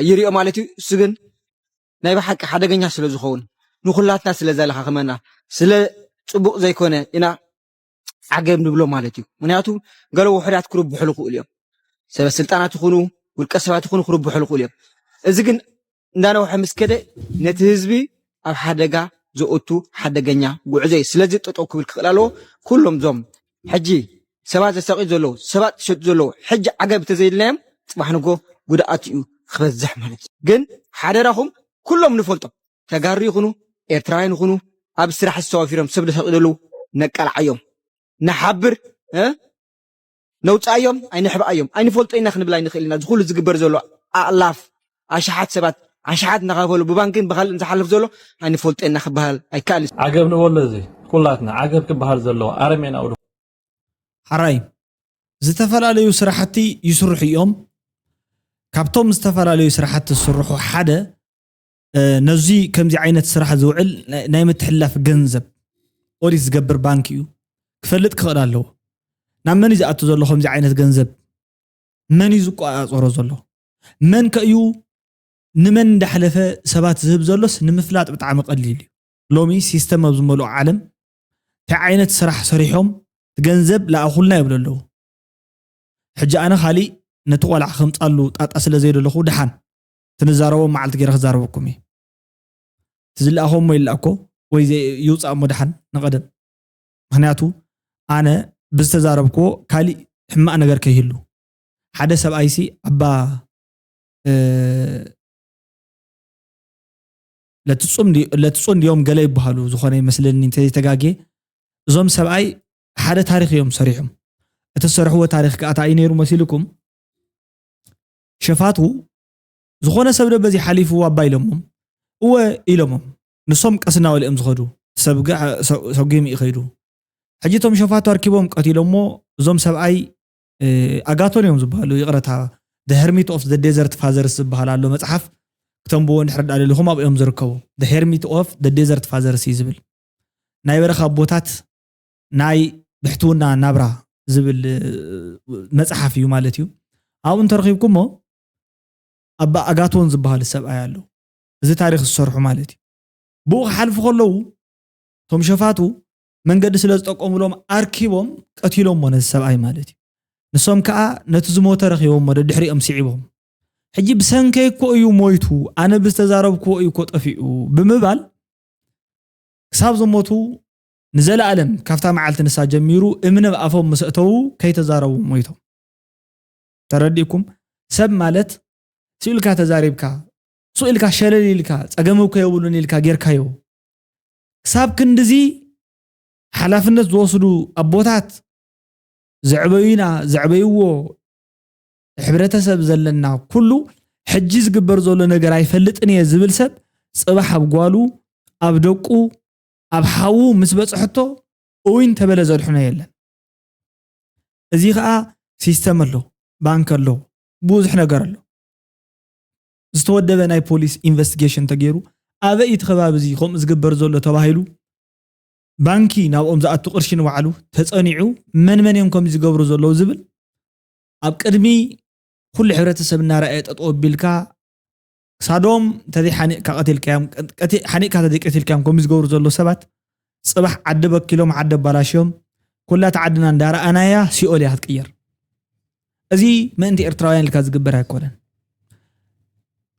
ይሪኦ ማለት እዩ እሱ ግን ናይ ብሓቂ ሓደገኛ ስለ ዝኸውን ንኹላትና ስለ ዘላኻኽመና ስለ ጽቡቕ ዘይኮነ ኢና ዓገብ ንብሎ ማለት እዩ ምክንያቱ ገለ ውሑዳት ክርብሑ ልኽእሉ እዮም ሰበ ስልጣናት ይኹኑ ውልቀ ሰባት ይኹኑ ክርብሑ ልኽእሉ እዮም እዚ ግን እንዳነውሐ ምስ ከደ ነቲ ህዝቢ ኣብ ሓደጋ ዘእቱ ሓደገኛ ጉዕዞ እዩ። ስለዚ ጠጠው ክብል ክኽእል ኣለዎ። ኩሎም እዞም ሕጂ ሰባት ዘሳቅዩ ዘለዉ ሰባት ዝሸጡ ዘለዉ ሕጂ ዓገብ ተዘይልናዮም ጽባሕ ንግሆ ጉድኣት ኢዩ ክበዝሕ ማለት ኢዩ ግን ሓደራኹም ኩሎም ንፈልጦም ተጋሩ ይኹኑ ኤርትራውያን ይኹኑ ኣብ ስራሕ ዝተዋፊሮም ሰብ ዘሳቅዩ ዘለዉ ነቃልዓዮም ንሓብር እ ነውጽኣዮም ኣይንሕብኣዮም ኣይንፈልጦ ኢና ክንብል ኣይንኽእል ኢና ዝኹሉ ዝግበር ዘሎ ኣእላፍ ኣሽሓት ሰባት ኣሽሓት እናኸፈሉ ብባንክን ብኻልእን ዝሓልፍ ዘሎ ኣይንፈልጦ ኢና ክበሃል ኣይከኣልን። ዓገብ ንበሎ እዚ ኩላትና ዓገብ ክበሃል ዘለዎ ኣረሜናዊ ድኹም። ሐራይ ዝተፈላለዩ ስራሕቲ ይስርሑ እዮም ካብቶም ዝተፈላለዩ ስራሕቲ ዝስርሑ ሓደ ነዚ ከምዚ ዓይነት ስራሕ ዝውዕል ናይ ምትሕልላፍ ገንዘብ ኦዲት ዝገብር ባንኪ እዩ ክፈልጥ ክኽእል ኣለዎ ናብ መን እዩ ዝኣቱ ዘሎ ከምዚ ዓይነት ገንዘብ መን እዩ ዝቆፃፀሮ ዘሎ? መን ከ እዩ ንመን እንዳሕለፈ ሰባት ዝህብ ዘሎስ ንምፍላጥ ብጣዕሚ ቀሊል እዩ። ሎሚ ሲስተም ኣብ ዝመልኦ ዓለም ታይ ዓይነት ስራሕ ሰሪሖም ትገንዘብ ላኣኹልና ይብሉ ኣለዉ። ሕጂ ኣነ ካሊእ ነቲ ቆልዓ ከምፃሉ ጣጣ ስለ ዘይደለኹ ድሓን እቲ ንዛረቦም መዓልቲ ገይረ ክዛረበኩም እየ። እቲ ዝላኣኾ እሞ ይላኣኮ ወይ ይውፃእ እሞ ድሓን ንቀደም። ምክንያቱ ኣነ ብዝተዛረብክዎ ካሊእ ሕማቅ ነገር ከይህሉ ሓደ ሰብኣይ ሲ ኣባ ለትፁን ድዮም ገለ ይበሃሉ ዝኾነ ይመስለኒ እንተዘይተጋግየ እዞም ሰብኣይ ሓደ ታሪክ እዮም ሰሪሖም እቲ ዝሰርሕዎ ታሪክ ከዓ እንታይ እዩ ነይሩ መሲልኩም ሸፋቱ ዝኾነ ሰብ ዶ በዚ ሓሊፉ ኣባ ኢሎሞም እወ ኢሎሞም ንሶም ቀስ እናበሉ'ዮም ዝኸዱ፣ ሰብ ግዕ ሰጒሙ እዩ ከይዱ። ሕጂ እቶም ሸፋቱ ኣርኪቦም ቀቲሎሞ፣ እዞም ሰብኣይ ኣጋቶን እዮም ዝበሃሉ፣ ይቕረታ The Hermit of the Desert Fathers ዝበሃል ኣሎ መጽሓፍ፣ ክተንብዎ እንድሕር ደኣ ደሊኹም ኣብኡ እዮም ዝርከቡ። The Hermit of the Desert Fathers እዩ ዝብል። ናይ በረኻ ኣቦታት ናይ ብሕትውና ናብራ ዝብል መጽሓፍ እዩ ማለት እዩ። ኣብኡ እንተረኺብኩሞ ኣባ ኣጋቶን ዝበሃል ሰብኣይ ኣሎ። እዚ ታሪኽ ዝሰርሑ ማለት እዩ። ብኡ ክሓልፉ ከለዉ እቶም ሸፋቱ መንገዲ ስለ ዝጠቆምሎም ኣርኪቦም ቀቲሎሞ ነዚ ሰብኣይ ማለት እዩ። ንሶም ከኣ ነቲ ዝሞተ ረኺቦሞ ደድሕሪኦም ስዒቦም ሕጂ ብሰንከይ እኮ እዩ ሞይቱ ኣነ ብዝተዛረብክዎ እዩ እኮ ጠፊኡ ብምባል ክሳብ ዝሞቱ ንዘለኣለም ካብታ መዓልቲ ንሳ ጀሚሩ እምኒ ኣብ ኣፎም ምስ እተዉ ከይተዛረቡ ሞይቶም። ተረዲእኩም ሰብ ማለት ስኢልካ ተዛሪብካ ሱቕ ኢልካ ሸለል ኢልካ ጸገም እኮ የብሉን ኢልካ ጌርካዮ ክሳብ ክንድዚ ሓላፍነት ዝወስዱ ኣቦታት ዘዕበዩና ዘዕበይዎ ሕብረተሰብ ዘለና ኩሉ ሕጂ ዝግበር ዘሎ ነገር ኣይፈልጥን እየ ዝብል ሰብ ጽባሕ ኣብ ጓሉ ኣብ ደቁ ኣብ ሓዉ ምስ በጽሐቶ እውን ተበለ ዘድሕኖ የለን እዚ ከዓ ሲስተም ኣሎ ባንክ ኣሎ ብዙሕ ነገር ኣሎ ዝተወደበ ናይ ፖሊስ ኢንቨስቲጌሽን ተገይሩ ኣበይ እዩ እቲ ከባቢ እዚ ከምኡ ዝግበር ዘሎ ተባሂሉ ባንኪ ናብኦም ዝኣቱ ቅርሺ ንባዕሉ ተፀኒዑ መን መን እዮም ከምዚ ዝገብሩ ዘለዉ ዝብል ኣብ ቅድሚ ኩሉ ሕብረተሰብ እናረኣየ ጠጠው ኣቢልካ ክሳዶም ተዘይሓኒቕካ ቀቲልካዮም ሓኒቕካ ተዘይቀቲልካዮም ከምኡ ዝገብሩ ዘለዉ ሰባት ጽባሕ ዓዲ በኪሎም ዓዲ ኣባላሽዮም ኩላ እታ ዓድና እንዳረኣናያ ሲኦል እያ ክትቅየር እዚ ምእንቲ ኤርትራውያን ኢልካ ዝግበር ኣይኮነን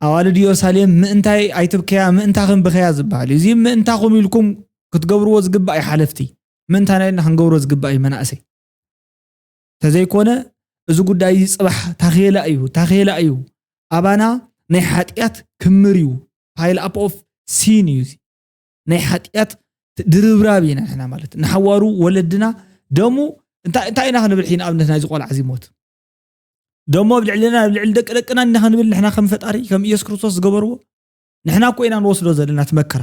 ኣዋልድ ኢየሩሳሌም ምእንታይ ኣይትብከያ ምእንታኽን ብኸያ ዝበሃል እዩ እዚ ምእንታኹም ኢልኩም ክትገብርዎ ዝግባእ እዩ ሓለፍቲ ምእንታና ኢልና ክንገብሮ ዝግባእ እዩ መናእሰይ ተዘይኮነ እዚ ጉዳይ እዚ ፅባሕ ታኼላ እዩ ታኼላ እዩ ኣባና ናይ ሓጢኣት ክምር እዩ ፓይል ኣፕ ኦፍ ሲን እዩ እዚ ናይ ሓጢኣት ድርብራብ ኢና ንሕና ማለት ንሓዋሩ ወለድና ደሙ እንታይ ኢና ክንብል ሕይ ንኣብነት ናይዚ ቆልዓ እዚ ሞት ደሞ ኣብ ልዕልና ኣብ ልዕሊ ደቂ ደቅና ኢና ክንብል ንሕና ከም ፈጣሪ ከም ኢየሱስ ክርስቶስ ዝገበርዎ ንሕና እኮ ኢና ንወስዶ ዘለና እቲ መከራ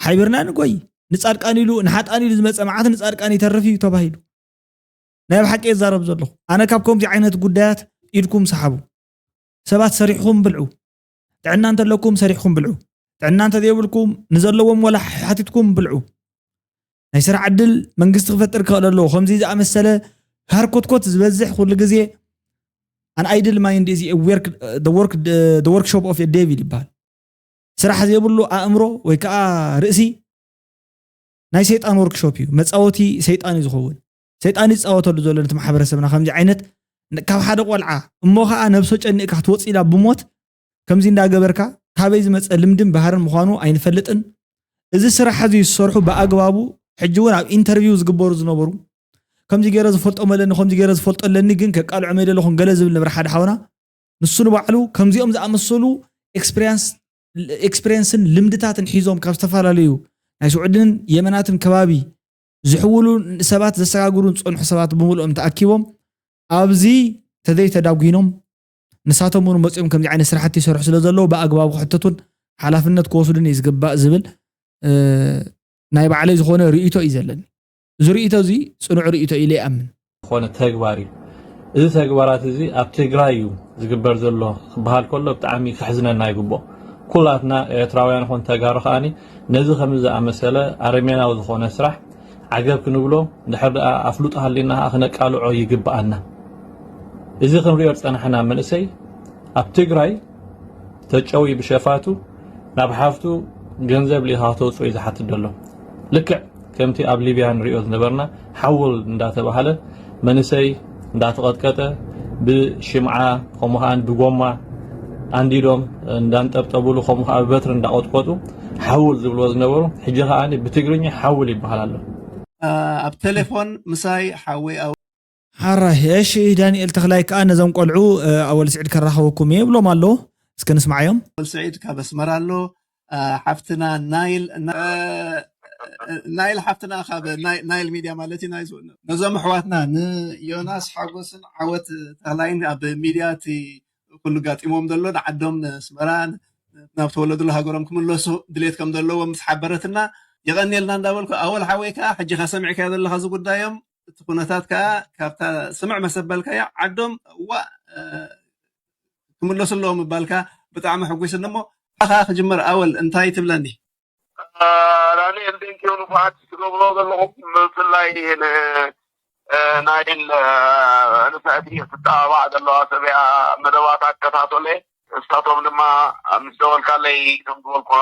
ሓቢርና ንጎይ ንፃድቃን ኢሉ ንሓጣን ኢሉ ዝመፀ መዓት ንፃድቃን ይተርፍ እዩ ተባሂሉ ናይ ብሓቂ የዛረብ ዘለኹ ኣነ ካብ ከምዚ ዓይነት ጉዳያት ኢድኩም ሰሓቡ ሰባት ሰሪሕኹም ብልዑ ጥዕና እንተለኩም ሰሪሕኩም ብልዑ ጥዕና እንተዘይብልኩም ንዘለዎም ወላ ሓቲትኩም ብልዑ ናይ ስራሕ ዕድል መንግስቲ ክፈጥር ክኽእል ኣለዎ ከምዚ ዝኣመሰለ ሃርኮትኮት ዝበዝሕ ኩሉ ግዜ ኣን ኣይድል ማይንድ እዚ ወርክሾፕ ኦፍ ዴቪል ይበሃል ስራሕ ዘይብሉ ኣእምሮ ወይ ከዓ ርእሲ ናይ ሰይጣን ወርክሾፕ እዩ መፃወቲ ሰይጣን እዩ ዝኸውን ሰይጣን ይጻወተሉ ዘሎ ነቲ ማሕበረሰብና ከምዚ ዓይነት ካብ ሓደ ቆልዓ እሞ ከኣ ነብሶ ጨኒእካ ክትወጽእ ኢላ ብሞት ከምዚ እንዳገበርካ ካበይ ዝመጸ ልምድን ባህርን ምዃኑ ኣይንፈልጥን እዚ ስራሕ እዚ ዝሰርሑ ብኣግባቡ ሕጂ እውን ኣብ ኢንተርቪው ዝግበሩ ዝነበሩ ከምዚ ገይረ ዝፈልጦም ኣለኒ ከምዚ ገይረ ዝፈልጦ ኣለኒ ግን ከቃልዖም የደለኹን ገለ ዝብል ነብረ ሓደ ሓውና ንሱ ንባዕሉ ከምዚኦም ዝኣመሰሉ ኤክስፕሪንስ ኤክስፕሪንስን ልምድታትን ሒዞም ካብ ዝተፈላለዩ ናይ ስዑድን የመናትን ከባቢ ዝሕውሉ ሰባት ዘሰጋግሩን ዝፀንሑ ሰባት ብምልኦም ተኣኪቦም ኣብዚ ተዘይተዳጒኖም ንሳቶም እውን መፅኦም ከምዚ ዓይነት ስራሕቲ ይሰርሑ ስለ ዘለዉ ብኣግባቡ ክሕተቱን ሓላፍነት ክወስዱን እዩ ዝግባእ ዝብል ናይ ባዕለይ ዝኾነ ርእይቶ እዩ ዘለኒ እዚ ርእይቶ እዚ ፅኑዕ ርእይቶ ኢለ ይኣምን ዝኾነ ተግባር እዩ እዚ ተግባራት እዚ ኣብ ትግራይ እዩ ዝግበር ዘሎ ክበሃል ከሎ ብጣዕሚ ከሕዝነና ይግብኦ ኩላትና ኤርትራውያን ኾን ተጋሩ ከዓኒ ነዚ ከም ዝኣመሰለ ኣረሜናዊ ዝኾነ ስራሕ ዓገብ ክንብሎ እንድሕር ደኣ ኣፍልጦ ሃሊና ከዓ ክነቃልዖ ይግብኣና እዚ ክንሪኦ ዝፀናሕና መንእሰይ ኣብ ትግራይ ተጨውዩ ብሸፋቱ ናብ ሓፍቱ ገንዘብ ሊኻ ክተውፅኦ እዩ ዝሓትት ዘሎ ልክዕ ከምቲ ኣብ ሊብያ ንሪኦ ዝነበርና ሓውል እንዳተባሃለ መንእሰይ እንዳተቐጥቀጠ ብሽምዓ ከምኡ ከዓ ብጎማ ኣንዲዶም እንዳንጠብጠብሉ ከምኡ ከዓ ብበትሪ እንዳቆጥቆጡ ሓውል ዝብልዎ ዝነበሩ ሕጂ ከዓ ብትግርኛ ሓውል ይበሃል ኣሎ ኣብ ቴሌፎን ምሳይ ሓወይ ሕራይ እሺ ዳኒኤል ተኽላይ ከኣ ነዞም ቆልዑ ኣወል ስዒድ ከራኽበኩም እየ ይብሎም ኣሎ እስከ ንስምዓዮም። ኣወል ስዒድ ካብ ኣስመራ ኣሎ ሓፍትና ናይል ናይል ሓፍትና ካብ ናይል ሚድያ ማለት እዩ ናይዝ ነዞም ኣሕዋትና ንዮናስ ሓጎስን ዓወት ተኽላይን ኣብ ሚድያ እቲ ኩሉ ጋጢሞም ዘሎ ንዓዶም ንስመራ ናብ ተወለድሉ ሃገሮም ክምለሱ ድሌት ከም ዘለዎም ምስ ሓበረትና የቐንየልና እንዳበልኩ ኣወል ሓወይ ከዓ ሕጂኻ ሰሚዕካዮ ዘለኻ ዝጉዳዮም እቲ ኩነታት ከኣ ካብታ ስምዕ መሰበልካያ ዓዶም ዋእ ክምለሱ ኣለዎም ምባልካ ብጣዕሚ ሕጒስኒ እሞ ካባኻ ክጅምር ኣወል እንታይ ትብለኒ? ዳኒኤል ቴንኪው ንፉዓት ትገብርዎ ዘለኹም ብፍላይ ን ናይል ንፍዕቲ ትጠባባዕ ዘለዋ ሰብያ መደባታ እከታቶለ ንሳቶም ድማ ምስ ደወልካለይ ከም ዝበልኩኻ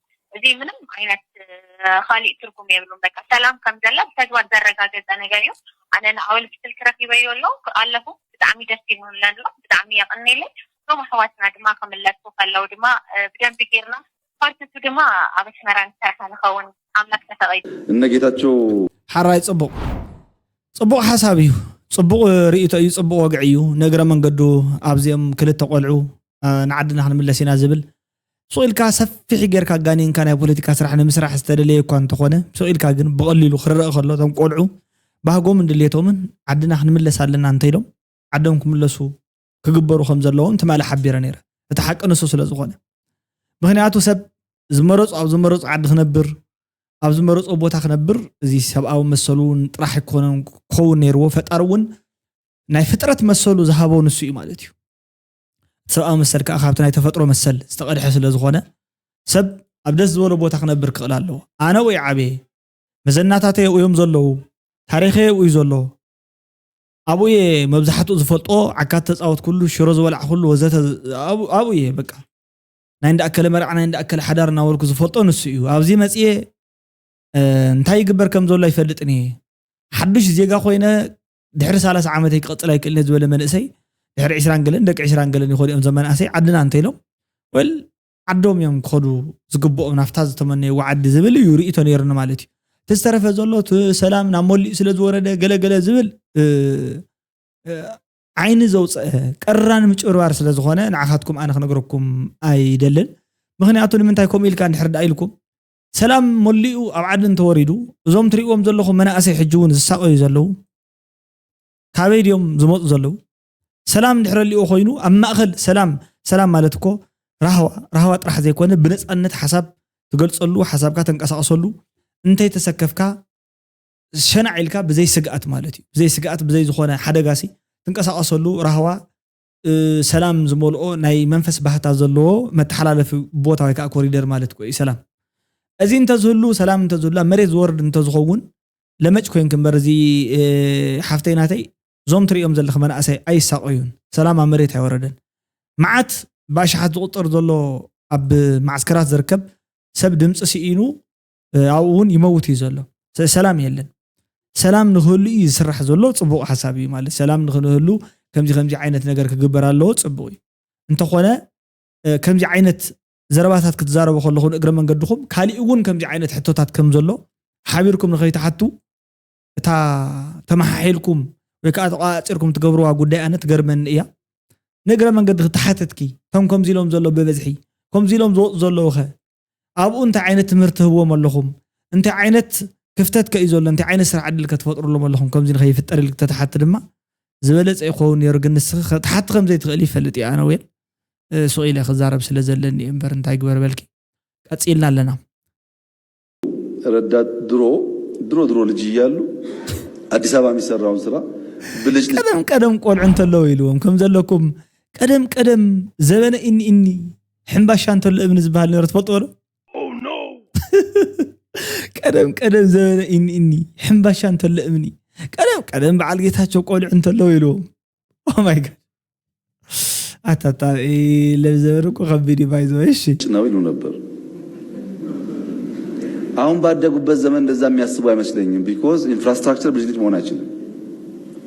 እዚ ምንም ዓይነት ኻሊእ ትርጉም የብሉን በቃ ሰላም ከም ዘላ ብተግባር ዘረጋገጸ ነገር እዩ ኣነ ንኣወል ብስልኪ ረኺበዮ ኣሎ ኣለኹ ብጣዕሚ ደስ ይብሉኒ ኣሎ ብጣዕሚ የቕኔለይ እቶም ኣሕዋትና ድማ ክምለሱ ከለው ድማ ብደንቢ ጌርና ፓርትቱ ድማ ኣብ ኣስመራ ንሰርሓ ንኸውን ኣምላክ ተፈቒዱ እነ ጌታቸው ሐራይ ጽቡቅ ጽቡቅ ሓሳብ እዩ ጽቡቅ ሪኢቶ እዩ ጽቡቅ ወግዒ እዩ ንእግረ መንገዱ ኣብዚኦም ክልተ ቆልዑ ንዓድና ክንምለስ ኢና ዝብል ስቕ ኢልካ ሰፊሕ ጌርካ ጋኒንካ ናይ ፖለቲካ ስራሕ ንምስራሕ ዝተደለየ እኳ እንተኾነ ስቕ ኢልካ ግን ብቐሊሉ ክርእ ከሎ እቶም ቆልዑ ባህጎምን ድሌቶምን ዓድና ክንምለስ ኣለና እንተኢሎም ዓዶም ክምለሱ ክግበሩ ከም ዘለዎም ትማሊ ሓቢረ ነይረ እቲ ሓቂ ንሱ ስለ ዝኾነ ምኽንያቱ ሰብ ዝመረጾ ኣብ ዝመረጾ ዓዲ ክነብር ኣብ ዝመረጾ ቦታ ክነብር እዚ ሰብኣዊ መሰሉ እውን ጥራሕ ኣይኮነን ክኸውን ነይርዎ ፈጣሪ እውን ናይ ፍጥረት መሰሉ ዝሃቦ ንሱ እዩ ማለት እዩ ሰብኣዊ መሰል ከኣ ካብቲ ናይ ተፈጥሮ መሰል ዝተቐድሐ ስለ ዝኾነ ሰብ ኣብ ደስ ዝበሎ ቦታ ክነብር ክኽእል ኣለዎ። ኣነ ኣብኡይ ዓብየ፣ መዘናታተይ ኣብኡዮም ዘለዉ፣ ታሪኸይ ኣብኡዩ ዘሎ፣ ኣብኡየ መብዛሕትኡ ዝፈልጦ ዓካት ዝተጻወትኩሉ፣ ሽሮ ዝበላዕኩሉ ወዘተ ኣብኡየ በቃ ናይ እንዳ ኣከለ መርዓ ናይ እንዳ ኣከለ ሓዳር እናበልኩ ዝፈልጦ ንሱ እዩ ኣብዚ መፅየ እንታይ ይግበር ከም ዘሎ ኣይፈልጥን እየ ሓዱሽ ዜጋ ኮይነ ድሕሪ ሳላሳ ዓመተይ ክቕፅል ኣይክእልን ዝበለ መንእሰይ ድሕሪ ዕስራን ገለን ደቂ ዕስራን ገለን ይኸዱ እዮም ዘመናእሰይ ዓድና እንተኢሎም ወል ዓዶም እዮም ክኸዱ ዝግብኦም ናብታ ዝተመነይዎ ዓዲ ዝብል እዩ ርእቶ ነይሩኒ ማለት እዩ እቲ ዝተረፈ ዘሎ ሰላም ናብ መሊኡ ስለ ዝወረደ ገለገለ ዝብል ዓይኒ ዘውፅአ ቀራን ምጭብርባር ስለ ዝኾነ ንዓኻትኩም ኣነ ክነግረኩም ኣይደልን ምክንያቱ ንምንታይ ከምኡ ኢልካ እንድሕር ዳ ኢልኩም ሰላም መሊኡ ኣብ ዓዲ እንተወሪዱ እዞም ትሪእዎም ዘለኹም መናእሰይ ሕጂ እውን ዝሳቐዩ ዘለዉ ካበይ ድዮም ዝመፁ ዘለዉ? ሰላም ድሕረ ሊኦ ኮይኑ ኣብ ማእኸል ሰላም ሰላም ማለት እኮ ራህዋ ራህዋ ጥራሕ ዘይኮነ ብነፃነት ሓሳብ ትገልፀሉ ሓሳብካ ተንቀሳቕሰሉ እንተይተሰከፍካ ሸናዕ ኢልካ ብዘይ ስግኣት ማለት እዩ ብዘይ ስግኣት ብዘይ ዝኾነ ሓደጋሲ ትንቀሳቐሰሉ ራህዋ ሰላም ዝመልኦ ናይ መንፈስ ባህታ ዘለዎ መተሓላለፊ ቦታ ወይ ከዓ ኮሪደር ማለት እኮ እዩ ሰላም። እዚ እንተዝህሉ ሰላም እንተዝህሉ ኣብ መሬት ዝወርድ እንተዝኸውን ለመጭ ኮይንክ እምበር እዚ ሓፍተይ ናተይ እዞም ትሪኦም ዘለኽ መናእሰይ ኣይሳቐዩን ሰላም ኣብ መሬት ኣይወረደን መዓት ብኣሽሓት ዝቑፀር ዘሎ ኣብ ማዕስከራት ዝርከብ ሰብ ድምፂ ስኢኑ ኣብኡ እውን ይመውት እዩ ዘሎ ሰላም የለን ሰላም ንክህሉ እዩ ዝስራሕ ዘሎ ፅቡቅ ሓሳብ እዩ ማለት ሰላም ንክንህሉ ከምዚ ከምዚ ዓይነት ነገር ክግበር ኣለዎ ፅቡቅ እዩ እንተኾነ ከምዚ ዓይነት ዘረባታት ክትዛረቡ ከለኹ ንእግረ መንገድኹም ካሊእ እውን ከምዚ ዓይነት ሕቶታት ከም ዘሎ ሓቢርኩም ንኸይትሓቱ እታ ተመሓሒልኩም ወይ ከዓ ተቋፂርኩም ትገብርዋ ጉዳይ ኣነ ትገርመኒ እያ ንእግረ መንገዲ ክትሓተትኪ እቶም ከምዚ ኢሎም ዘሎ ብበዝሒ ከምዚ ኢሎም ዝወፁ ዘለዉ ኸ ኣብኡ እንታይ ዓይነት ትምህርቲ ትህብዎም ኣለኹም? እንታይ ዓይነት ክፍተት ከ እዩ ዘሎ? እንታይ ዓይነት ስራሕ ዕድል ከ ትፈጥርሎም ኣለኹም? ከምዚ ንኸይፍጠር ኢልክ ተትሓቲ ድማ ዝበለጸ ይኸውን ነይሩ፣ ግን ንስኺ ክትሓቲ ከም ዘይትኽእሊ ይፈልጥ እየ፣ ኣነ ዌል ሱቕ ኢለ ክዛረብ ስለ ዘለኒ እየ እምበር እንታይ ግበር በልኪ። ቀጺልና ኣለና። ረዳት፣ ድሮ ድሮ ድሮ ልጅ እያሉ ኣዲስ ኣበባ የሚሰራውን ስራ ብልጭልጭ። ቀደም ቀደም ቆልዑ እንተለዉ ኢልዎም ከም ዘለኩም ቀደም ቀደም ዘበነ ኢኒ ኢኒ ሕምባሻ እንተሎ እብኒ ዝበሃል ነይሮ ትፈልጥዎ ዶ ቀደም ቀደም ዘበነ እኒ እኒ ሕምባሻ እንተሎ እምኒ ቀደም ቀደም በዓል ጌታቸው ቆልዑ እንተለዎ ኢልዎም ኦማይ ጋድ ኣታታ ለብዘበን እኮ ከቢድ እዩ ባይዘ እሺ ነው ይሉ ነበር። አሁን ባደጉበት ዘመን እንደዛ የሚያስቡ አይመስለኝም። ቢኮዝ ኢንፍራስትራክቸር ብልጭልጭ መሆን አይችልም።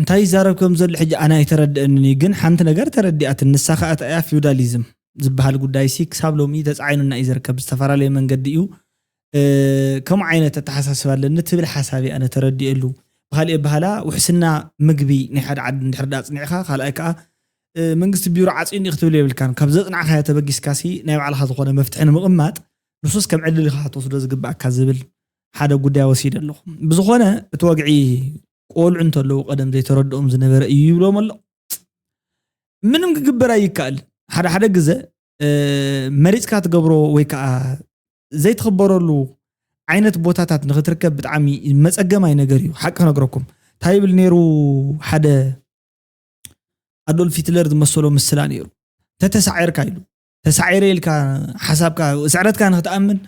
እንታይ ይዛረብ ከም ዘሎ ሕጂ ኣነ ኣይተረድኣንን እዩ ግን ሓንቲ ነገር ተረዲኣትኒ ንሳ ከኣ እንታይ እያ ፊውዳሊዝም ዝበሃል ጉዳይሲ ክሳብ ሎሚ ተጻዒኑና እዩ ዝርከብ ብዝተፈላለየ መንገዲ እዩ ከምኡ ዓይነት ኣተሓሳስባ ኣለኒ ትብል ሓሳብ እያ ኣነ ተረዲኤሉ ብካልእ ኣበሃላ ውሕስና ምግቢ ናይ ሓደ ዓዲ እንድሕር ዳ ኣጽኒዕካ ካልኣይ ከኣ መንግስቲ ቢሮ ዓጽዩኒ ክትብል የብልካን ካብ ዘጽናዕካዮ ተበጊስካሲ ናይ ባዕልካ ዝኾነ መፍትሒ ንምቕማጥ ንሱስ ከም ዕድል ኢኻ ክትወስዶ ዝግብኣካ ዝብል ሓደ ጉዳይ ወሲደ ኣለኹ። ብዝኾነ እቲ ወግዒ ቆልዑ እንተለዉ ቀደም ዘይተረድኦም ዝነበረ እዩ ይብሎም ኣሎ። ምንም ክግበር ኣይከኣልን። ሓደ ሓደ ግዘ መሪፅካ ትገብሮ ወይ ከዓ ዘይትኽበረሉ ዓይነት ቦታታት ንክትርከብ ብጣዕሚ መፀገማይ ነገር እዩ። ሓቂ ክነግረኩም እንታይ ይብል ነይሩ ሓደ ኣዶልፍ ሂትለር ዝመሰሎ ምስላ ነይሩ ተተሳዒርካ ኢሉ ተሳዒረ ኢልካ ሓሳብካ ስዕረትካ ንክትኣምን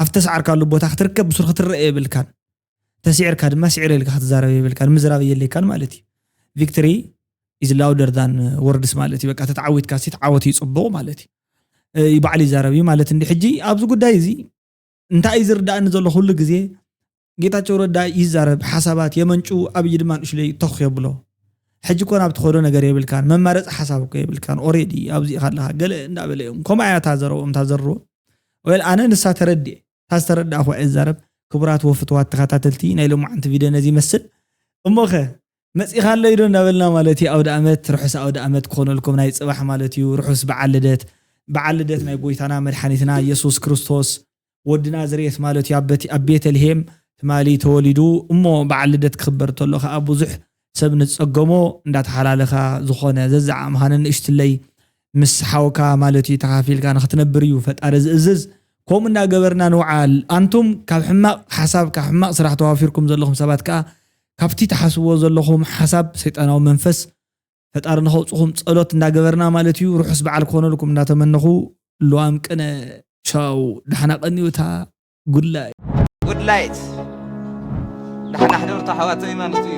ኣብ ተሰዓርካሉ ቦታ ክትርከብ ብሱር ክትረአ የብልካን ተሲዕርካ ድማ ስዒረ ኢልካ ክትዛረብ የብልካን ምዝራብ የለካን ማለት እዩ ቪክትሪ ኢዝ ላውደር ዳን ወርድስ ማለት እዩ በቃ ተተዓዊትካ ሲ ተዓወት እዩ ፅቡቕ ማለት እዩ ባዕሉ ይዛረብ እዩ ማለት እንዲ ሕጂ ኣብዚ ጉዳይ እዚ እንታይ እዩ ዝርዳእኒ ዘሎ ኩሉ ግዜ ጌታቸው ረዳ ይዛረብ ሓሳባት የመንጩ ኣብይ ድማ ንእሽለይ ተኽ የብሎ ሕጂ ኮን ኣብ ትኸዶ ነገር የብልካን መማረፂ ሓሳብ እኮ የብልካን ኦሬዲ ኣብዚ ኢኻ ኣለኻ ገለ እንዳበለ እዮም ከምኡ ኣያ እታ ዘረብኦም እታ ዘርዎ ወል ኣነ ንሳ ተረድኤ እታ ዝተረዳእኹ እየ ዝዛረብ ክቡራት ወፍትዋት ተኸታተልቲ ናይ ሎማዓንቲ ቪድዮ ነዚ ይመስል እሞኸ መጺኻለይ ዶ እንዳበልና ማለት እዩ ኣውድኣመት ርሑስ ኣውድኣመት ክኾነልኩም ናይ ጽባሕ ማለት እዩ ርሑስ በዓል ልደት በዓል ልደት ናይ ጎይታና መድሓኒትና የሱስ ክርስቶስ ወዲ ናዝሬት ማለት እዩ ኣብ ቤተልሄም ትማሊ ተወሊዱ እሞ በዓል ልደት ክኽበር ተሎ ከኣ ብዙሕ ሰብ ንዝጸገሞ እንዳተሓላለኻ ዝኾነ ዘዝዓኣምኻ ነንእሽትለይ ምስ ሓውካ ማለት እዩ ተኻፊልካ ንኽትነብር እዩ ፈጣሪ ዝእዝዝ ከምኡ እንዳገበርና ንውዓል ኣንቱም ካብ ሕማቕ ሓሳብ ካብ ሕማቕ ስራሕ ተዋፊርኩም ዘለኹም ሰባት ከኣ ካብቲ ትሓስብዎ ዘለኹም ሓሳብ ሰይጣናዊ መንፈስ ፈጣሪ ንኸውጽኹም ጸሎት እንዳገበርና ማለት እዩ ርሑስ በዓል ክኾነልኩም እንዳተመነኹ ልዋም ቅነ ቻው ዳሕና ቀንዩ እታ ጉድላይ Goodlight ዳሕና ሕደሩ እታ ኣሕዋተይ ማለት እዩ።